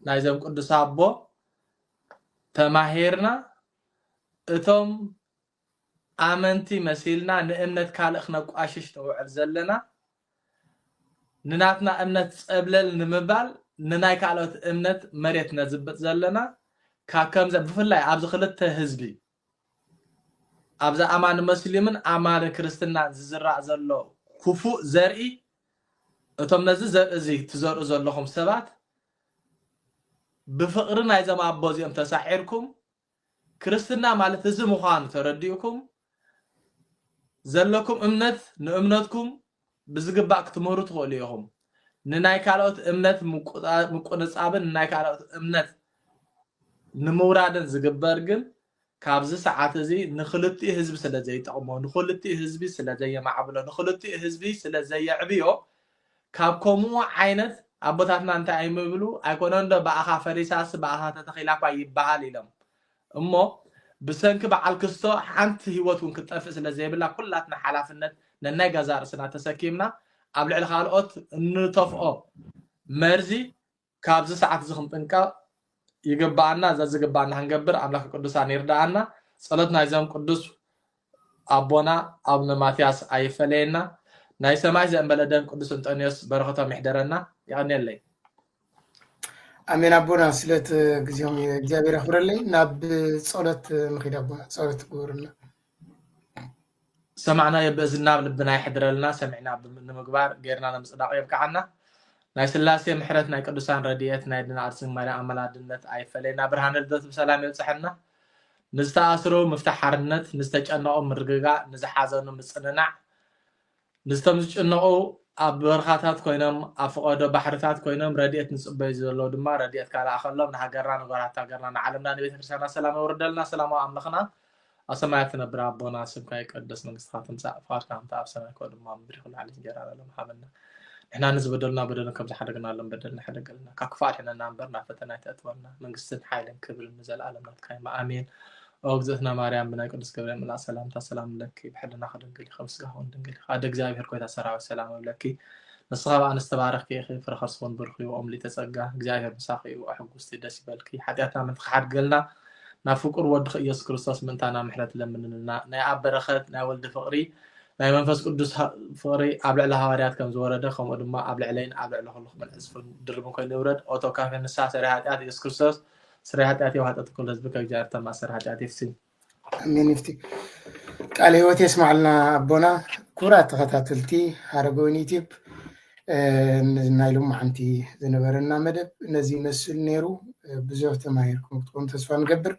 ናይዘም ቅዱስ ኣቦ ተማሂርና እቶም ኣመንቲ መሲልና ንእምነት ካልእ ክነቋሽሽ ነውዕል ዘለና ንናትና እምነት ጸብለል ንምባል ንናይ ካልኦት እምነት መሬት ነዝብጥ ዘለና ካብ ከምዚ ብፍላይ ኣብዚ ክልተ ህዝቢ ኣብዚ ኣማኒ መስሊምን ኣማኒ ክርስትናን ዝዝራእ ዘሎ ኩፉእ ዘርኢ እቶም ነዚ ዘርኢ እዚ ትዘርኡ ዘለኹም ሰባት ብፍቕሪ ናይዞም ኣቦ እዚኦም ተሳዒርኩም ክርስትና ማለት እዚ ምዃኑ ተረዲእኩም ዘለኩም እምነት ንእምነትኩም ብዝግባእ ክትምህሩ ትኽእሉ ኢኹም። ንናይ ካልኦት እምነት ምቁንጻብን ንናይ ካልኦት እምነት ንምውራድን ዝግበር ግን ካብዚ ሰዓት እዚ ንክልቲኡ ህዝቢ ስለ ዘይጠቕሞ ንክልቲኡ ህዝቢ ስለ ዘየማዕብሎ ንክልቲኡ ህዝቢ ስለ ዘየዕብዮ ካብ ኮሙኡ ዓይነት ኣቦታትና እንታይ ኣይምብሉ ኣይኮነንዶ ብኣኻ ፈሪሳስ ብኣኻ ተተኺላኳ ይብሃል ኢሎም እሞ ብሰንኪ ብዓል ክስቶ ሓንቲ ሂወት ውን ክትጠፍእ ስለ ዘይብላ ኩላትና ሓላፍነት ነናይ ገዛእ ርእስና ተሰኪምና ኣብ ልዕሊ ካልኦት እንተፍኦ መርዚ ካብዚ ሰዓት እዚ ክንጥንቀቅ ይግበኣና ዘዝግበኣና ክንገብር ኣምላከ ቅዱሳን ይርደኣና ጸሎት ናይዞም ቅዱስ ኣቦና ኣቡነ ማትያስ ኣይፈለየና ናይ ሰማይ ዘእንበለ ደም ቅዱስ እንጠንዮስ በረከቶም ይሕደረና ይቀንየለይ ኣሜን ኣቦና ስለቲ ግዜኦም እግዚኣብሔር ያኽብረለይ ናብ ጸሎት ምኺድ ኣቦና ጸሎት ግበሩልና ዝሰማዕናዮ ብእዝንና ኣብ ልብና የሕድረልና ሰሚዕና ንምግባር ገይርና ንምፅዳቕ የብቅዓና ናይ ስላሴ ምሕረት ናይ ቅዱሳን ረድኤት ናይ ድና ኣድስን ማርያም ኣመላድነት ኣይፈለየና ብርሃነ ልደቱ ብሰላም የብፅሐና ንዝተኣስሩ ምፍታሕ ሓርነት ንዝተጨነቑ ምርግጋእ ንዝሓዘኑ ምፅንናዕ ምስቶም ዝጭነቑ ኣብ በርኻታት ኮይኖም ኣብ ፍቐዶ ባሕርታት ኮይኖም ረዲኤት ንጽበዩ ዘለው ድማ ረዲኤትካ ልኣኸሎም ንሃገርና ንጎራት ሃገርና ንዓለምና ንቤተክርስትያና ሰላም የውርደልና ሰላማዊ ኣምልኽና ኣብ ሰማያት ትነብር ኣቦና ስምካ ይቀደስ መንግስትካ ትምጻእ ፍቃድካ ከምቲ ኣብ ሰማይ ከምኡ ድማ ኣብ ምድሪ ኩሉ ዓይነት እንጀራና ሎም ሃበና ንሕና ንዝበደሉና በደልን ከም ዝሓደግናሎም በደልና ሕደገልና ካብ ክፉእ ኣድሕነና እምበር ናብ ፈተና ኣይተእትወና መንግስትን ሓይልን ክብርን ንዘለኣለም ናትካ ይማ ኣሜን ኦ እግዝእትና ማርያም ብናይ ቅዱስ ገብርኤል መልኣክ ሰላምታ ሰላም እብለኪ ብሕልናኺ ድንግል ኢኺ ብስጋኽውን ድንግል ኢኺ ኣደ እግዚኣብሔር ጎይታ ሰራዊት ሰላም እብለኪ ንስኻ ብኣንስቲ ዝተባረኽኪ ኢኺ ፍረ ከርስኹን ብሩኽ እዩ ኦም ሊተ ጸጋ እግዚኣብሔር ምሳኺ እዩ ኣሕጉስቲ ደስ ይበልኪ ሓጢኣትና ምንቲ ክሓድገልና ናብ ፍቁር ወድኺ ኢየሱስ ክርስቶስ ምእንታና ምሕረት ለምንልና ናይ ኣብ በረኸት ናይ ወልዲ ፍቕሪ ናይ መንፈስ ቅዱስ ፍቕሪ ኣብ ልዕሊ ሃዋርያት ከም ዝወረደ ከምኡ ድማ ኣብ ልዕለይን ኣብ ልዕሊ ኩልኹምን ዕፅፍን ድርብን ኮይኑ ይውረድ ኦቶ ካፌ ንስሓ ሰሪ ሃጢኣት የሱስ ክርስቶስ ስራይ ኃጢአት የው ኃጢአት ኩሉ ህዝብ ከእግዚአብሔር ተማሰር ኃጢአት ይፍስኝ። ኣሜን ይፍቲ ቃለ ህይወት የስማዕልና ኣቦና ክቡራት ተኸታተልቲ ሃረገወይን ዩቲብ ናይ ሎሚ ሓንቲ ዝነበረና መደብ ነዚ ይመስል ነይሩ ብዙሕ ተማሂርኩም ክትኮኑ ተስፋ ንገብር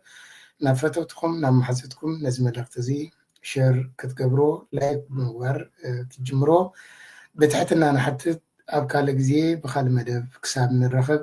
ናብ ፈተውትኩም ናብ ማሓዘትኩም ነዚ መልእክቲ እዚ ሸር ክትገብሮ ላይክ ብምግባር ክትጅምሮ ብትሕትና ንሓትት ኣብ ካልእ ግዜ ብካልእ መደብ ክሳብ ንረኸብ